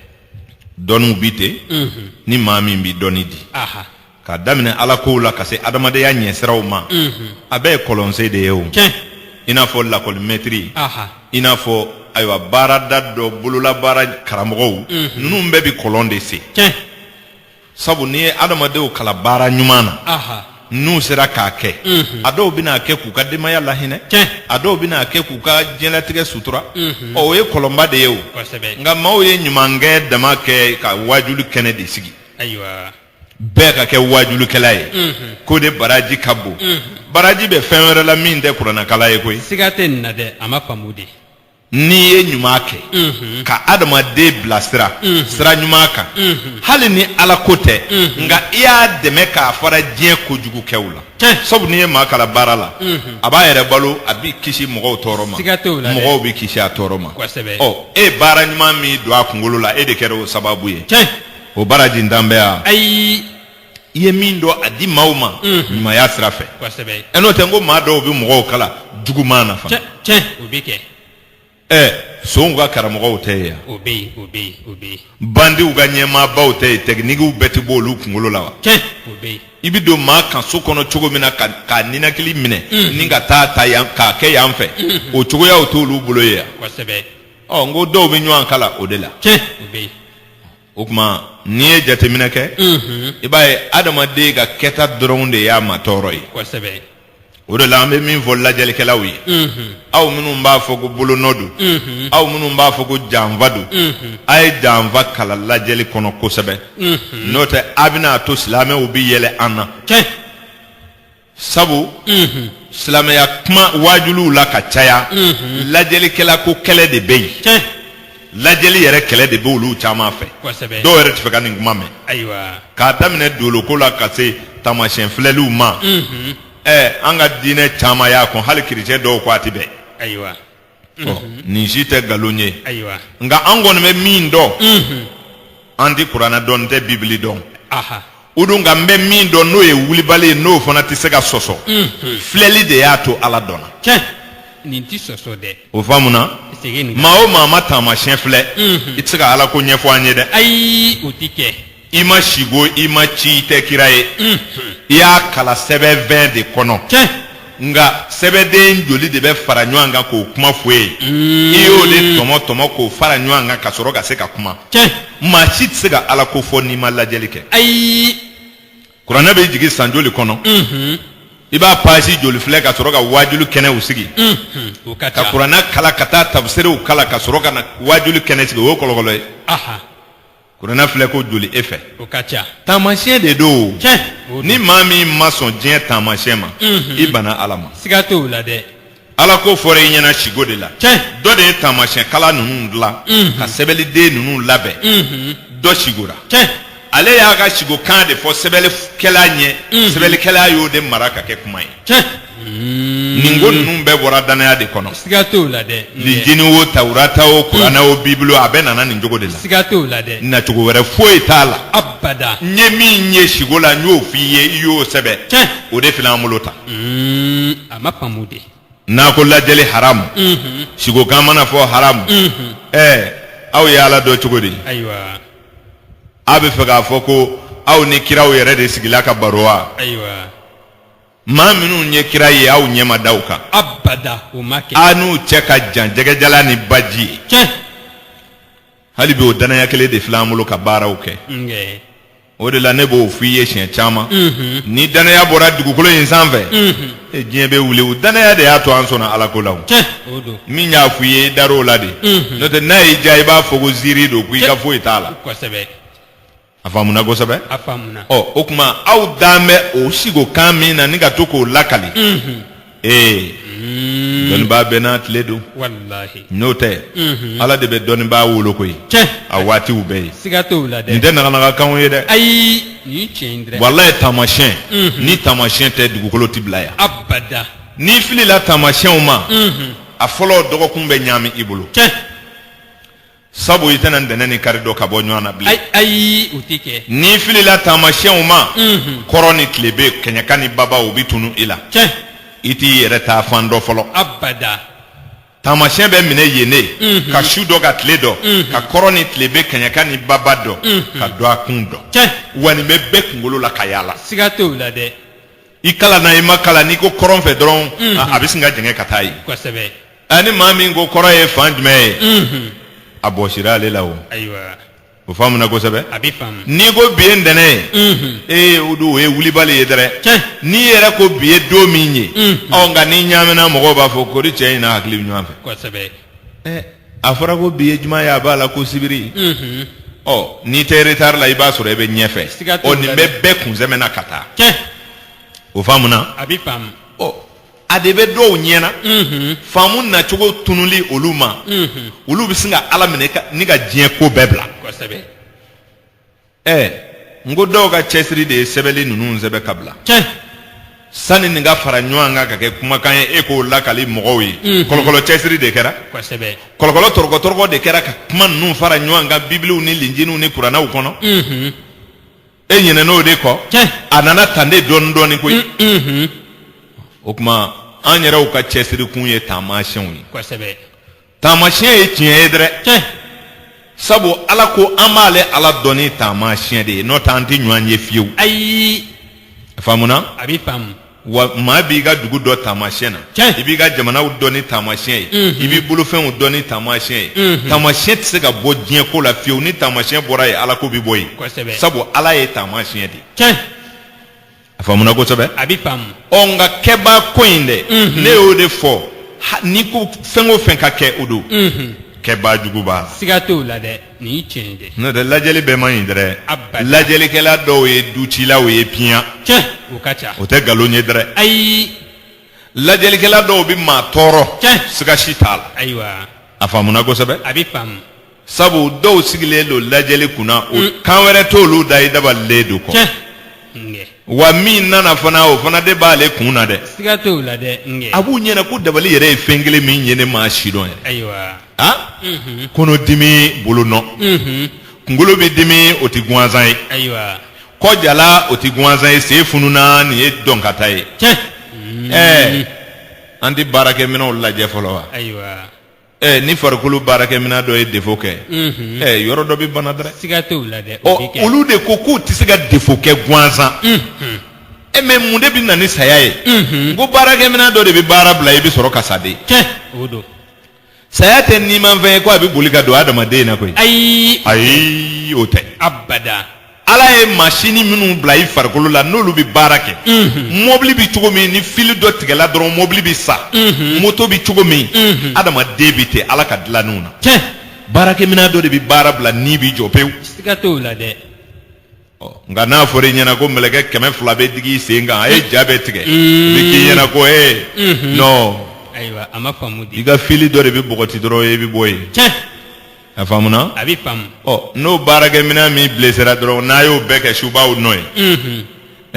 dɔnniw bi ten ni maa min bi dɔnni di aha ka daminɛ ala kow la ka se adamadenya ɲɛsiraw ma a bɛɛ ye kɔlɔnsen de ye o tiɲɛ i n'a fɔ lakɔlimɛtiri aha i n'a fɔ ayiwa baarada dɔ bololabaara karamɔgɔw ninnu bɛɛ bi kɔlɔn de sen tiɲɛ sabu n'i ye adamadenw kala baara ɲuman na aha n'u sera k'a kɛ a dɔw bɛna kɛ k'u ka denbaya lahinɛ tiɲɛ a dɔw bɛna kɛ k'u ka diɲɛlatigɛ sutura ɔ o ye kɔlɔnba de ye o kosɛbɛ nka maaw ye ɲumankɛ dama kɛ ka waajuli kɛnɛ de sigi ayiwa bɛɛ ka kɛ waajulikɛla ye k'o de baraji ka bon baraji bɛ fɛn wɛrɛ la min tɛ kuranakala ye koyi siga tɛ nin na dɛ a ma faamu de n'i ye ɲuman kɛ mhm. ka adamaden bila sira mhm. sira ɲuman kan mhm. hali ni ala ko tɛ nka i y'a dɛmɛ k'a fara diɲɛ kojugukɛw la sabu n'i ye maa kala baara la a b'a yɛrɛ balo a bɛ kisi mɔgɔw tɔɔrɔ ma mɔgɔw bɛ kisi a tɔɔrɔ ma ɔ e ye baara ɲuman min don a kunkolo la e de kɛra o sababu ye o barajintan bɛ yan ayi i ye min dɔn a di maaw ma ɲumanya sira fɛ ɛ n'o tɛ n ko maa dɔw bɛ mɔgɔw kala juguman na fana tiɲɛ o bɛ kɛ ɛ sonw ka karamɔgɔw tɛ yen o bɛ yen o bɛ yen o bɛ yen bandiw ka ɲɛmaabaw tɛ yen tɛkinikiw bɛɛ tɛ bɔ olu kunkolo la wa tiɲɛ o bɛ yen i bɛ don maa kan so kɔnɔ cogo min na k'a ninakili minɛ ni k'a ta ta yan k'a kɛ yan fɛ o cogoyaw t'olu bolo ye yan kosɛbɛ ɔ n ko dɔw bɛ ɲɔgɔn kala o de la tiɲɛ o bɛ yen o tuma n'i ye jateminɛ kɛ i b'a ye adamaden ka kɛta dɔrɔn de y'a ma tɔɔrɔ ye o de la an bɛ min fɔ lajɛlikɛlaw ye aw minnu b'a fɔ ko bolonɔ don aw minnu b'a fɔ ko janfa don a ye janfa kala lajɛli kɔnɔ kosɛbɛ n'o tɛ a bɛna a to silamɛw bɛ yɛlɛ an na sabu silamɛya kuma waajuliw la ka caya lajɛlikɛla ko kɛlɛ de bɛ yen tiɲɛ lajɛli yɛrɛ kɛlɛ de bɛ olu caman fɛ kosɛbɛ dɔw yɛrɛ tɛ fɛ ka nin kuma mɛn ayiwa k'a daminɛ dooloko la ka se taamasiyɛn filɛliw ma ɛɛ an ka diinɛ caman y'a kɔn hali kerecɛn dɔw ko a tɛ bɛn ayiwa nin si tɛ nkalon ye ayiwa nka an kɔni bɛ min dɔn an tɛ kuranɛ dɔn n tɛ bibili dɔn aha o don nka n bɛ min dɔn n'o ye wulibali ye n'o fana tɛ se ka sɔsɔ filɛli de y'a to ala dɔnna tiɲɛ nin ti sɔsɔ dɛ o faamuna segin nin maa o maa ma taamasiyɛn filɛ i tɛ se ka ala ko ɲɛfɔ an ye dɛ ayi o ti kɛ i ma sigo i ma ci i tɛ kira ye i y'a kala sɛbɛnfɛn de kɔnɔ nka sɛbɛnden joli de bɛ fara ɲɔgɔn kan k'o kuma fɔ i ye i y'o de tɔmɔ tɔmɔ k'o fara ɲɔgɔn kan ka sɔrɔ ka se ka kuma maa si tɛ se ka ala ko fɔ n'i ma lajɛli kɛ ayi kuranɛ bɛ jigin san joli kɔnɔ i b'a paasi joli filɛ ka sɔrɔ ka waajuli kɛnɛw sigi ka kuranɛ kala ka taa tafsiriw kala ka sɔrɔ ka na waajuli kɛnɛ sigi o ye kɔlɔkɔlɔ ye kuranɛ filɛ ko joli e fɛ o ka ca taamasiyɛn de don tiɲɛ o ni don maa min ma sɔn diɲɛ taamasiyɛn ma Mhm. i bana ala ma siga t'o la dɛ ala ko fɔra i ɲɛna sigo de la tiɲɛ dɔ de ye taamasiyɛn kala ninnu dilan Mhm. ka sɛbɛliden ninnu labɛn Mhm. dɔ sigora tiɲɛ ale y'a ka sigokan de fɔ sɛbɛlikɛla ɲɛ Mhm. sɛbɛlikɛla y'o de mara ka kɛ kuma ye tiɲɛ nin ko ninnu bɛɛ bɔra danaya de kɔnɔ siga t'o la dɛ lijini o tawurata o kuranɛ o bibulu o a bɛɛ nana nin cogo de la siga t'o la dɛ nacogo wɛrɛ foyi t'a la abada n ye min ye sigo la n y'o f'i ye i y'o sɛbɛn cɛ o de filɛ an bolo ta a ma faamu de n'a ko lajɛli haramu sigokan mana fɔ haramu ɛɛ aw ye ala dɔn cogo di ayiwa aw bɛ fɛ k'a fɔ ko aw ni kiraw yɛrɛ de sigila ka baro wa ayiwa maa minnu ye kira ye aw ɲɛ ma da u kan abada o ma kɛ a n'u cɛ ka jan jɛgɛjala ni baji ye tiɲɛ hali bi o danaya kelen de filɛ an bolo ka baaraw kɛ nkɛ o de la ne b'o f'i ye siɲɛ caman Mhm. ni danaya bɔra dugukolo in sanfɛ Mhm. e diɲɛ bɛ wuli o danaya de y'a to an sɔnna ala ko la o. tiɲɛ o don min y'a f'i ye i dar'o la de Mhm. n'o tɛ n'a y'i diya i b'a fɔ ko ziiri don ko i ka foyi t'a la kosɛbɛ a faamuna kosɛbɛ a faamuna ɔ o tuma aw dan bɛ o sigo kan min na ni ka to k'o lakali ee dɔnnibaa bɛɛ n'a tile don walahi n'o tɛ ala de bɛ dɔnnibaa wolo koyi tiɲɛ a waatiw bɛɛ ye siga t'o la nin dɛ tɛ naganagakanw ye dɛ ayi nin ye tiɲɛ ye dɛ walayi taamasiyɛn ni taamasiyɛn tɛ dugukolo ti bila yan abada n'i filila taamasiyɛnw ma a fɔlɔ dɔgɔkun bɛ ɲaami i bolo tiɲɛ sabu i tɛna ntɛnɛn ni kari dɔn ka bɔ ɲɔgɔn na bilen ayi u tɛ kɛ n'i filila taamasiyɛnw ma kɔrɔn ni tilebi kɛɲɛka ni baba u bɛ tunu i la tiɲɛ i t'i yɛrɛ taa fan dɔn fɔlɔ abada taamasiyɛn bɛ minɛ yen ne ka su dɔn ka tile dɔn ka kɔrɔn ni tilebi kɛɲɛka ni baba dɔn ka dɔgɔkun dɔn tiɲɛ wa nin bɛ bɛɛ kunkolo la ka yaala siga t'o la dɛ i kalanna i ma kalan n'i ko kɔrɔn fɛ dɔrɔn a- a bɛ sin ka jɛngɛ ka taa yen kosɛbɛ ani maa min ko kɔrɔn ye fan jumɛn ye Mhm. a bɔsira ale la o ayiwa o faamuna kosɛbɛ a bɛ faamu n'i ko bi ye ntɛnɛn ye Mhm. ee o don o ye wulibali ye dɛrɛ tiɲɛ n'i yɛrɛ ko bi ye don min ye Mm. ɔ nka n'i ɲaamina mɔgɔw b'a fɔ kori cɛ in n'a hakili bɛ ɲɔgɔn fɛ kosɛbɛ ɛ a fɔra ko bi ye juma ye a b'a la ko sibiri Mhm. ɔ n'i tɛ retari la i b'a sɔrɔ i bɛ ɲɛfɛ Siga t'o ɔ nin la bɛ dɛ. bɛɛ kunsɛmɛ na ka taa tiɲɛ o faamuna a bɛ faamu ɔ a de bɛ dɔw ɲɛna faamu nacogo tununli olu ma olu bɛ sin ka ala minɛ ka- ni ka diɲɛ ko bɛɛ bila kosɛbɛ ɛɛ n ko dɔw ka cɛsiri de ye sɛbɛnli ninnu sɛbɛn ka bila tiɲɛ sani nin ka fara ɲɔgɔn kan ka kɛ kumakan ye e k'o lakali mɔgɔw ye kɔlɔkɔlɔ cɛsiri de kɛra kosɛbɛ kɔlɔkɔlɔ tɔrɔkɔtɔrɔkɔ de kɛra ka kuma ninnu fara ɲɔgɔn kan bibiliw ni linjiniw ni kuranɛw kɔnɔ e ɲinɛna o de kɔ a nana tan de dɔɔni dɔɔni koyi mm, mm-hmm. o tuma an yɛrɛw ka cɛsirikun ye taamasiyɛnw ye kosɛbɛ taamasiyɛn ye tiɲɛ ye dɛrɛ sabu ala ko an b'ale ala dɔn ni taamasiyɛn de ye n'o tɛ an tɛ ɲɔgɔn ye fiyewu ayi faamuna a bɛ faamu wa maa b'i ka dugu dɔn taamasiyɛn na i b'i ka jamanaw dɔn ni taamasiyɛn ye i b'i bolofɛnw dɔn ni taamasiyɛn ye taamasiyɛn tɛ se ka bɔ diɲɛ ko la fiyewu ni taamasiyɛn bɔra yen ala ko bɛ bɔ yen sabu ala ye taamasiyɛn de ye a faamuna kosɛbɛ a bɛ faamu ɔ nka kɛbaa ko in dɛ ne y'o de fɔ n'i ko fɛn o fɛn ka kɛ o don kɛbaa jugu b'a la siga t'o la dɛ nin ye tiɲɛ ye dɛ n'o tɛ lajɛli bɛɛ man ɲi dɛrɛ Abada. lajɛlikɛla dɔw ye ducilaw ye piyan tiɲɛ o ka ca o tɛ nkalon ye dɛrɛ ayi lajɛlikɛla dɔw bɛ maa tɔɔrɔ Tiɲɛ. siga si t'a la ayiwa a faamuna kosɛbɛ a bɛ faamu sabu dɔw sigilen don lajɛli kunna o kan wɛrɛ t'olu da i dabalilen don kɔ tiɲɛ wa min nana fana o fana de b'ale kun na dɛ a b'u ɲɛna ko dabali yɛrɛ ye fɛn kelen min ye ne m'a sidɔn yɛrɛ ayiwa kɔnɔdimi bolo nɔ kunkolo bɛ dimi o tɛ gansan ye kɔ jala o tɛ gansan ye sen fununa nin ye dɔnkata ye ɛɛ an tɛ baarakɛminɛnw lajɛ fɔlɔ wa ɛ ni farikolo baarakɛminɛn dɔ ye defo kɛ ɛ yɔrɔ dɔ bɛ bana dɛ siga t'o la dɛ o bɛ kɛ olu de ko k'u tɛ se ka defo kɛ gansan e mɛ mun de bɛ na ni saya ye n ko baarakɛminɛn dɔ de bɛ baara bila i bɛ sɔrɔ ka sa de tiɲɛ o don saya tɛ nimafɛn ye ko a bɛ boli ka don adamaden na koyi ayi ayi o tɛ abada ala ye masini minnu bila i farikolo la n'olu bɛ baara kɛ mɔbili bɛ cogo min ni fili dɔ tigɛla dɔrɔn mɔbili bɛ sa moto bɛ cogo min adamaden bɛ ten ala ka dilannenw na tiɲɛ baarakɛminɛn dɔ de bɛ baara bila ni bɛ jɔ pewu siga t'o la dɛ Ɔ, nka n'a fɔra i ɲɛna ko mɛlɛkɛ kɛmɛ fila bɛ digi i sen kan a ye ja bɛɛ tigɛ a bɛ k'i ɲɛna ko ee nɔn ayiwa a ma faamu dɛ i ka fili dɔ de bɛ bɔgɔti dɔrɔn i bɛ bɔ yen tiɲɛ a faamuna a bɛ faamu ɔ n'o baarakɛminɛn min blessera dɔrɔn n'a y'o bɛɛ kɛ subaw nɔ ye Mhm.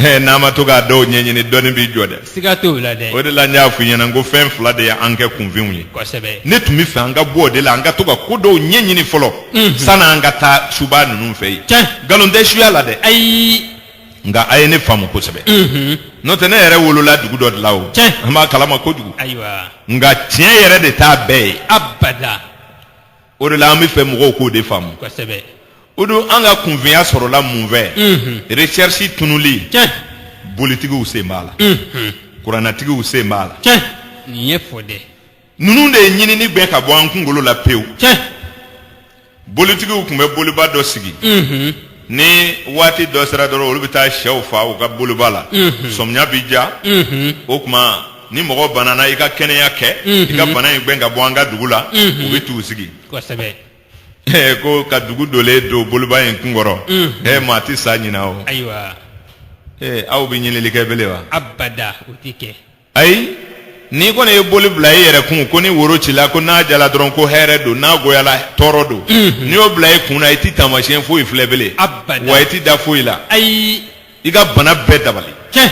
Eh, n'a ma to k'a dɔw ɲɛɲini dɔɔni b'i jɔ dɛ siga t'o la dɛ o de la n y'a f'i ɲɛna n ko fɛn fila de ye an kɛ kunfinw ye kosɛbɛ ne tun bɛ fɛ an ka bɔ o de la an ka to ka ko dɔw ɲɛɲini fɔlɔ Mhm. sani an ka taa suba ninnu fɛ yen tiɲɛ nkalon tɛ suya la dɛ ayi nka a ye ne faamu kosɛbɛ Mhm. n'o tɛ ne yɛrɛ wolola dugu dɔ de la o Tiɲɛ. an b'a kalama kojugu ayiwa nka tiɲɛ yɛrɛ de t'a bɛɛ ye abada o de la an bɛ fɛ mɔgɔw k'o de faamu kosɛbɛ o don an ka kunfinya sɔrɔla mun fɛ Unhun. recherche tunuli tiɲɛ bolitigiw sen b'a la Unhun. kuranatigiw sen b'a la tiɲɛ nin ye fɔ dɛ ninnu de ye ɲinini gɛn ka bɔ an kunkolo la pewu tiɲɛ bolitigiw tun bɛ boliba dɔ sigi Unhun. ni waati dɔ sera dɔrɔn olu bɛ taa shɛw fa u ka boliba la sɔmiya bɛ ja o tuma ni mɔgɔ banana i ka kɛnɛya kɛ i ka bana in gɛn ka bɔ an ka dugu la u bɛ t'u sigi kosɛbɛ Ee, ko ka dugu dolen don boliba in kun kɔrɔ ee maa tɛ sa ɲina o ayiwa ee aw bɛ ɲinili kɛ bele wa abada o tɛ kɛ ayi n'i kɔni ye boli bila i yɛrɛ kun ko ni woro cila ko n'a jala dɔrɔn ko hɛrɛ don n'a goyala tɔɔrɔ don n'i y'o bila i kun na i ti taamasiyɛn foyi filɛ bele Abada. wa i ti da foyi la ayi i ka bana bɛɛ dabali tiɲɛ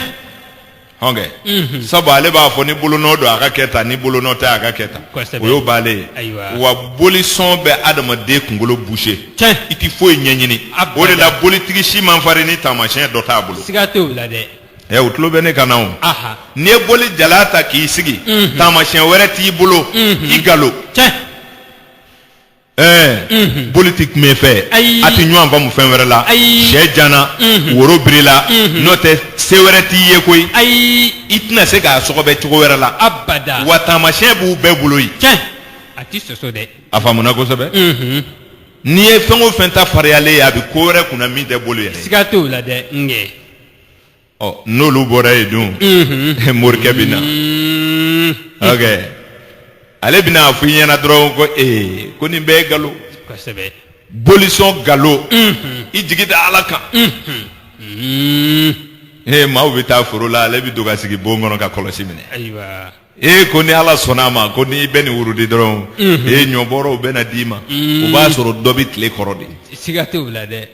hɔn kɛ sabu ale b'a fɔ ni bolonɔ don a ka kɛ tan ni bolonɔ tɛ a ka kɛ tan Kosɛbɛ. o y'o banlen ye Ayiwa. wa bolisɔn bɛ adamaden kunkolo boucher Tiɲɛ. i ti foyi ɲɛɲini Abada. o de la bolitigi si man farin ni taamasiyɛn dɔ t'a bolo siga t'o la dɛ ɛ u tulo bɛ ne kan na o aha n'i ye boli jala ta k'i sigi Mhm. taamasiyɛn wɛrɛ t'i bolo Mhm. i galo cɛ ɛɛ Mhm. boli tɛ kuma e fɛ Ayi. a tɛ ɲɔgɔn faamu fɛn wɛrɛ la Ayi. shɛ jana Mhm. woro birila Mhm. n'o tɛ se wɛrɛ t'i ye koyi ayi i tɛna se k'a sɔgɔbɛ cogo wɛrɛ la abada wa taamasiyɛn b'u bɛɛ bolo yen cɛ a ti sɔsɔ dɛ a faamuna kosɛbɛ Mhm. n'i ye fɛn o fɛn ta fariyalen ye a bɛ ko wɛrɛ kunna min tɛ boli yɛrɛ ye. siga t'o la dɛ n kɛ ɔ n'olu bɔra yen dun morikɛ bɛ na ok ale bɛna a fɔ i ɲɛna dɔrɔn ko ee ko nin bɛɛ ye galo kosɛbɛ bolisɔn galo i jigi da ala kan ee maaw bɛ taa foro la ale bɛ don ka sigi bon kɔnɔ ka kɔlɔsi minɛ ayiwa ee ko ni ala sɔnna a ma ko n'i bɛ nin wurudi dɔrɔn ee ɲɔbɔrɔw bɛ na d'i ma o b'a sɔrɔ dɔ bɛ tile kɔrɔ de siga t'o la dɛ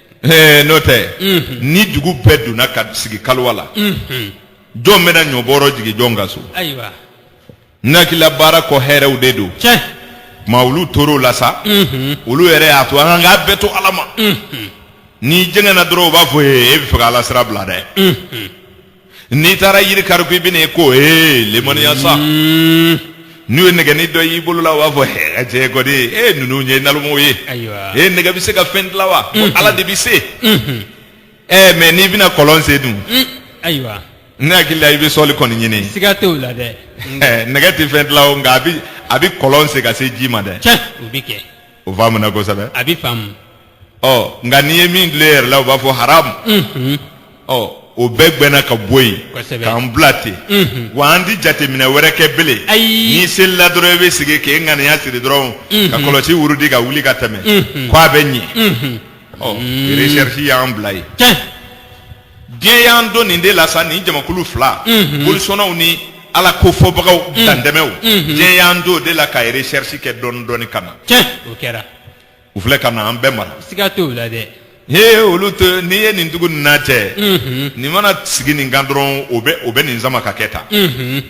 n'o tɛ ni dugu bɛɛ donna ka sigi kaliwa la jɔn bɛna ɲɔbɔrɔ jigin jɔn ka so ayiwa nakila baara kɔ hɛrɛw de don tuma olu tor'o la sa olu yɛrɛ y'a to an k'a bɛɛ to ala ma n'i jɛngɛna dɔrɔn u b'a fɔ e bɛ fɛ ka ala sira bila dɛ n'i taara yiri kari ko i bɛna e ko ee lemaniya sa hmm. n'u ye nɛgɛni dɔ y'i bolo la u b'a fɔ hɛ cɛ kɔni e ninnu ye nalomaw ye e nɛgɛ bɛ se ka fɛn dilan wa hmm. ala de bɛ se ɛɛ hmm. eh, mais n'i bɛna kɔlɔn sen dun ayiwa ne hakili la i bɛ sɔli kɔni ɲini siga t'o la dɛ eh, nɛgɛ tɛ fɛn dilan o nka a bɛ a bɛ kɔlɔn sen ka se ji ma dɛ tiɲɛ o bɛ kɛ o faamuna kosɛbɛ a bɛ faamu ɔ nka n'i ye min dilan yɛrɛ la u b'a fɔ haramu ɔ o bɛɛ gbɛnna ka bɔ yen Kosɛbɛ. k'an bila ten wa an ti jateminɛ wɛrɛ kɛ bilen Ayi. n'i selila dɔrɔn i bɛ sigi k'i ŋaniya siri dɔrɔn ka kɔlɔsi wurudi ka wuli ka tɛmɛ ko a bɛ ɲɛ ɔ recherche y'an bila yen tiɲɛ diɲɛ y'an don nin de la sa nin jamakulu fila bolisɔnnaw ni ala ko fɔbagaw dantɛmɛw diɲɛ y'an don o de la ka recherche kɛ dɔɔni dɔɔni ka na tiɲɛ o kɛra u filɛ ka na an bɛɛ mara siga t'o la dɛ he olu to n'i ye nin tugu nin na cɛ nin mana sigi nin kan dɔrɔn o bɛ o bɛ nin sama ka kɛ tan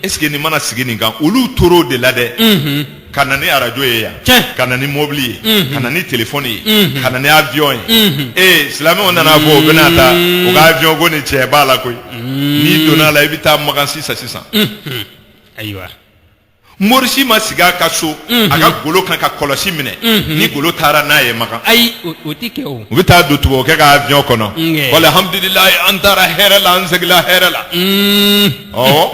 est ce que nin mana sigi nin kan olu tor'o de la dɛ ka na ni arajo ye yan Tiɲɛ. ka na ni mobili ye ka na ni telefɔni ye ka na ni avion ye ee silamɛw nan'a fɔ u bɛna taa u ka avion ko ni cɛ b'a la koyi n'i donna a la i bɛ taa Makan sisan sisan ayiwa Mori si ma sigi a ka so a ka golo kan ka kɔlɔsi minɛ ni golo taara n'a ye Makan ayi u bɛ taa don tubabukɛ ka avion kɔnɔ alhamdulilayi an taara hɛrɛ la an seginla hɛrɛ la ɔ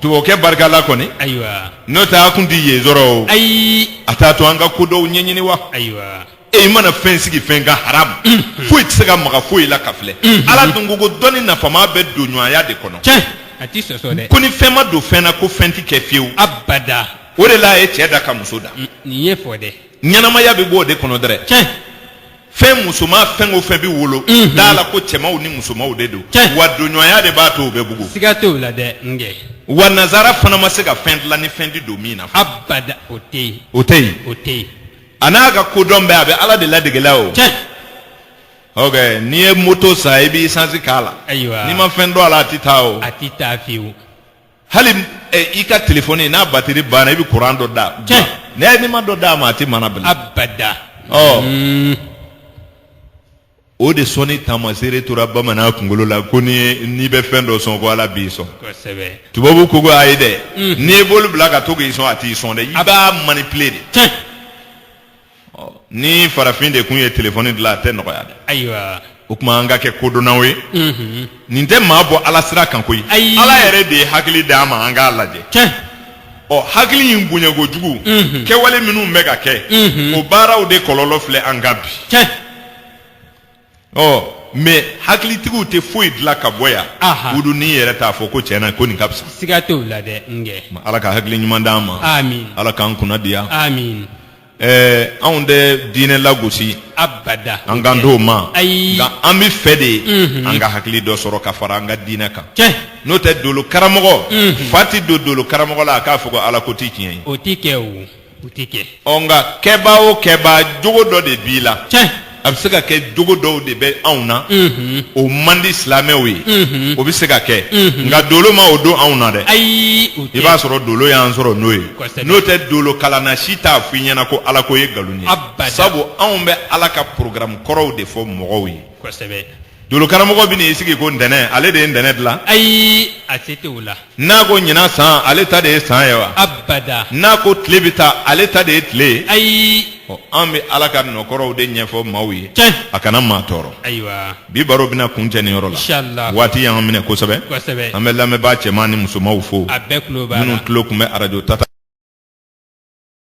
tubabukɛ barika la kɔni ayiwa n'o tɛ a kun tɛ yen sɔrɔ ayi a t'a to an ka ko dɔw ɲɛɲini wa ayiwa e mana fɛn sigi fɛn kan haramu mm. foyi tɛ se ka maga foyi la ka filɛ mm-hmm. ala dun ko ko dɔnni nafama bɛ donɲɔgɔnya de kɔnɔ tiɲɛ a tɛ sɔsɔ dɛ ko ni fɛn ma don fɛn na ko fɛn tɛ kɛ fiyewu abada o de la a ye cɛ da ka muso da mm, nin ye fɔ dɛ ɲɛnamaya bɛ bɔ o de kɔnɔ dɛrɛ tiɲɛ fɛn musoman fɛn o fɛn bɛ wolo mm-hmm. d'a la ko cɛmanw ni musomanw de don wa donɲɔgɔnya de b'a to u bɛ bugu siga t'o la dɛ n kɛ wa nazara fana ma se ka fɛn dilan ni fɛn ti don min na abada o tɛ yen o tɛ yen o tɛ yen a n'a ka kodɔn bɛɛ a bɛ ala de ladegela o tiɲɛ ok n'i ye moto san i bɛ isansi k'a la Ayiwa. n'i ma fɛn don a la a tɛ taa o a tɛ taa fiyewu hali eh, i ka telefɔni n'a batiri banna i bɛ kuran dɔ da Tiɲɛ. n'i ye n'i ma dɔ d'a ma a tɛ mana bilen abada ɔ Mm, o de sɔnni taamaseere tora bamanan kunkolo la ko ni n'i bɛ fɛn dɔ sɔn ko ala b'i sɔn tubabu ko ko ayi dɛ mm. n'i ye bolo bila ka to k'i sɔn a t'i sɔn dɛ i b'a manipuler de ni farafin de kun ye telefɔni dilan a tɛ nɔgɔya dɛ ayiwa o tuma an ka kɛ kodɔnnaw ye mm-hmm. nin tɛ maa bɔ ala sira kan koyi ala yɛrɛ de ye hakili d'an ma an k'a lajɛ ɔ hakili in bonya kojugu kɛwale minnu bɛ ka kɛ o baaraw de kɔlɔlɔ filɛ an kan bi tiɲɛ ɔ mɛ hakilitigiw tɛ foyi dilan ka bɔ yan Aha. k'u don i yɛrɛ t'a fɔ ko tiɲɛ na ko nin ka fisa siga t'o la dɛ n kɛ ala ka hakili ɲuman d'an ma amin ala k'an kunna diya amin Ɛɛ anw tɛ diinɛ lagosi abada an kan t'o ma ayi nka an b'a fɛ de an ka hakili dɔ sɔrɔ ka fara an ka diinɛ kan n'o tɛ dolo karamɔgɔ fa tɛ don dolo karamɔgɔ la a k'a fɔ ko ala ko tɛ tiɲɛ ye o tɛ kɛ o tɛ kɛ nka kɛba o kɛba jogo dɔ de b'i la a bɛ se ka kɛ jogo dɔw de bɛ anw na o man di silamɛw ye o bɛ se ka kɛ nka dolo ma o don anw na dɛ ayi i b'a sɔrɔ dolo y'an sɔrɔ n'o ye n'o tɛ dolo kalanna si t'a fɔ i ɲɛna ko ala ko ye nkalon ye sabu anw bɛ ala ka porokaramu kɔrɔw de fɔ mɔgɔw ye Dolo karamɔgɔ bɛ n'i sigi ko ntɛnɛn ale de ye ntɛnɛn dilan ayi a se tɛ o la n'a ko ɲinan san ale ta de ye san ye wa abada n'a ko tile bɛ taa ale ta de ye tile ye ayi an bɛ ala ka nɔ kɔrɔw de ɲɛfɔ maaw ye cɛ a kana maa tɔɔrɔ ayiwa bi baro bɛna kuncɛ nin yɔrɔ la waati y'an minɛ kosɛbɛ an bɛ lamɛnbaa cɛman ni musomanw fo a bɛɛ minnu tulo tun bɛ arajo tata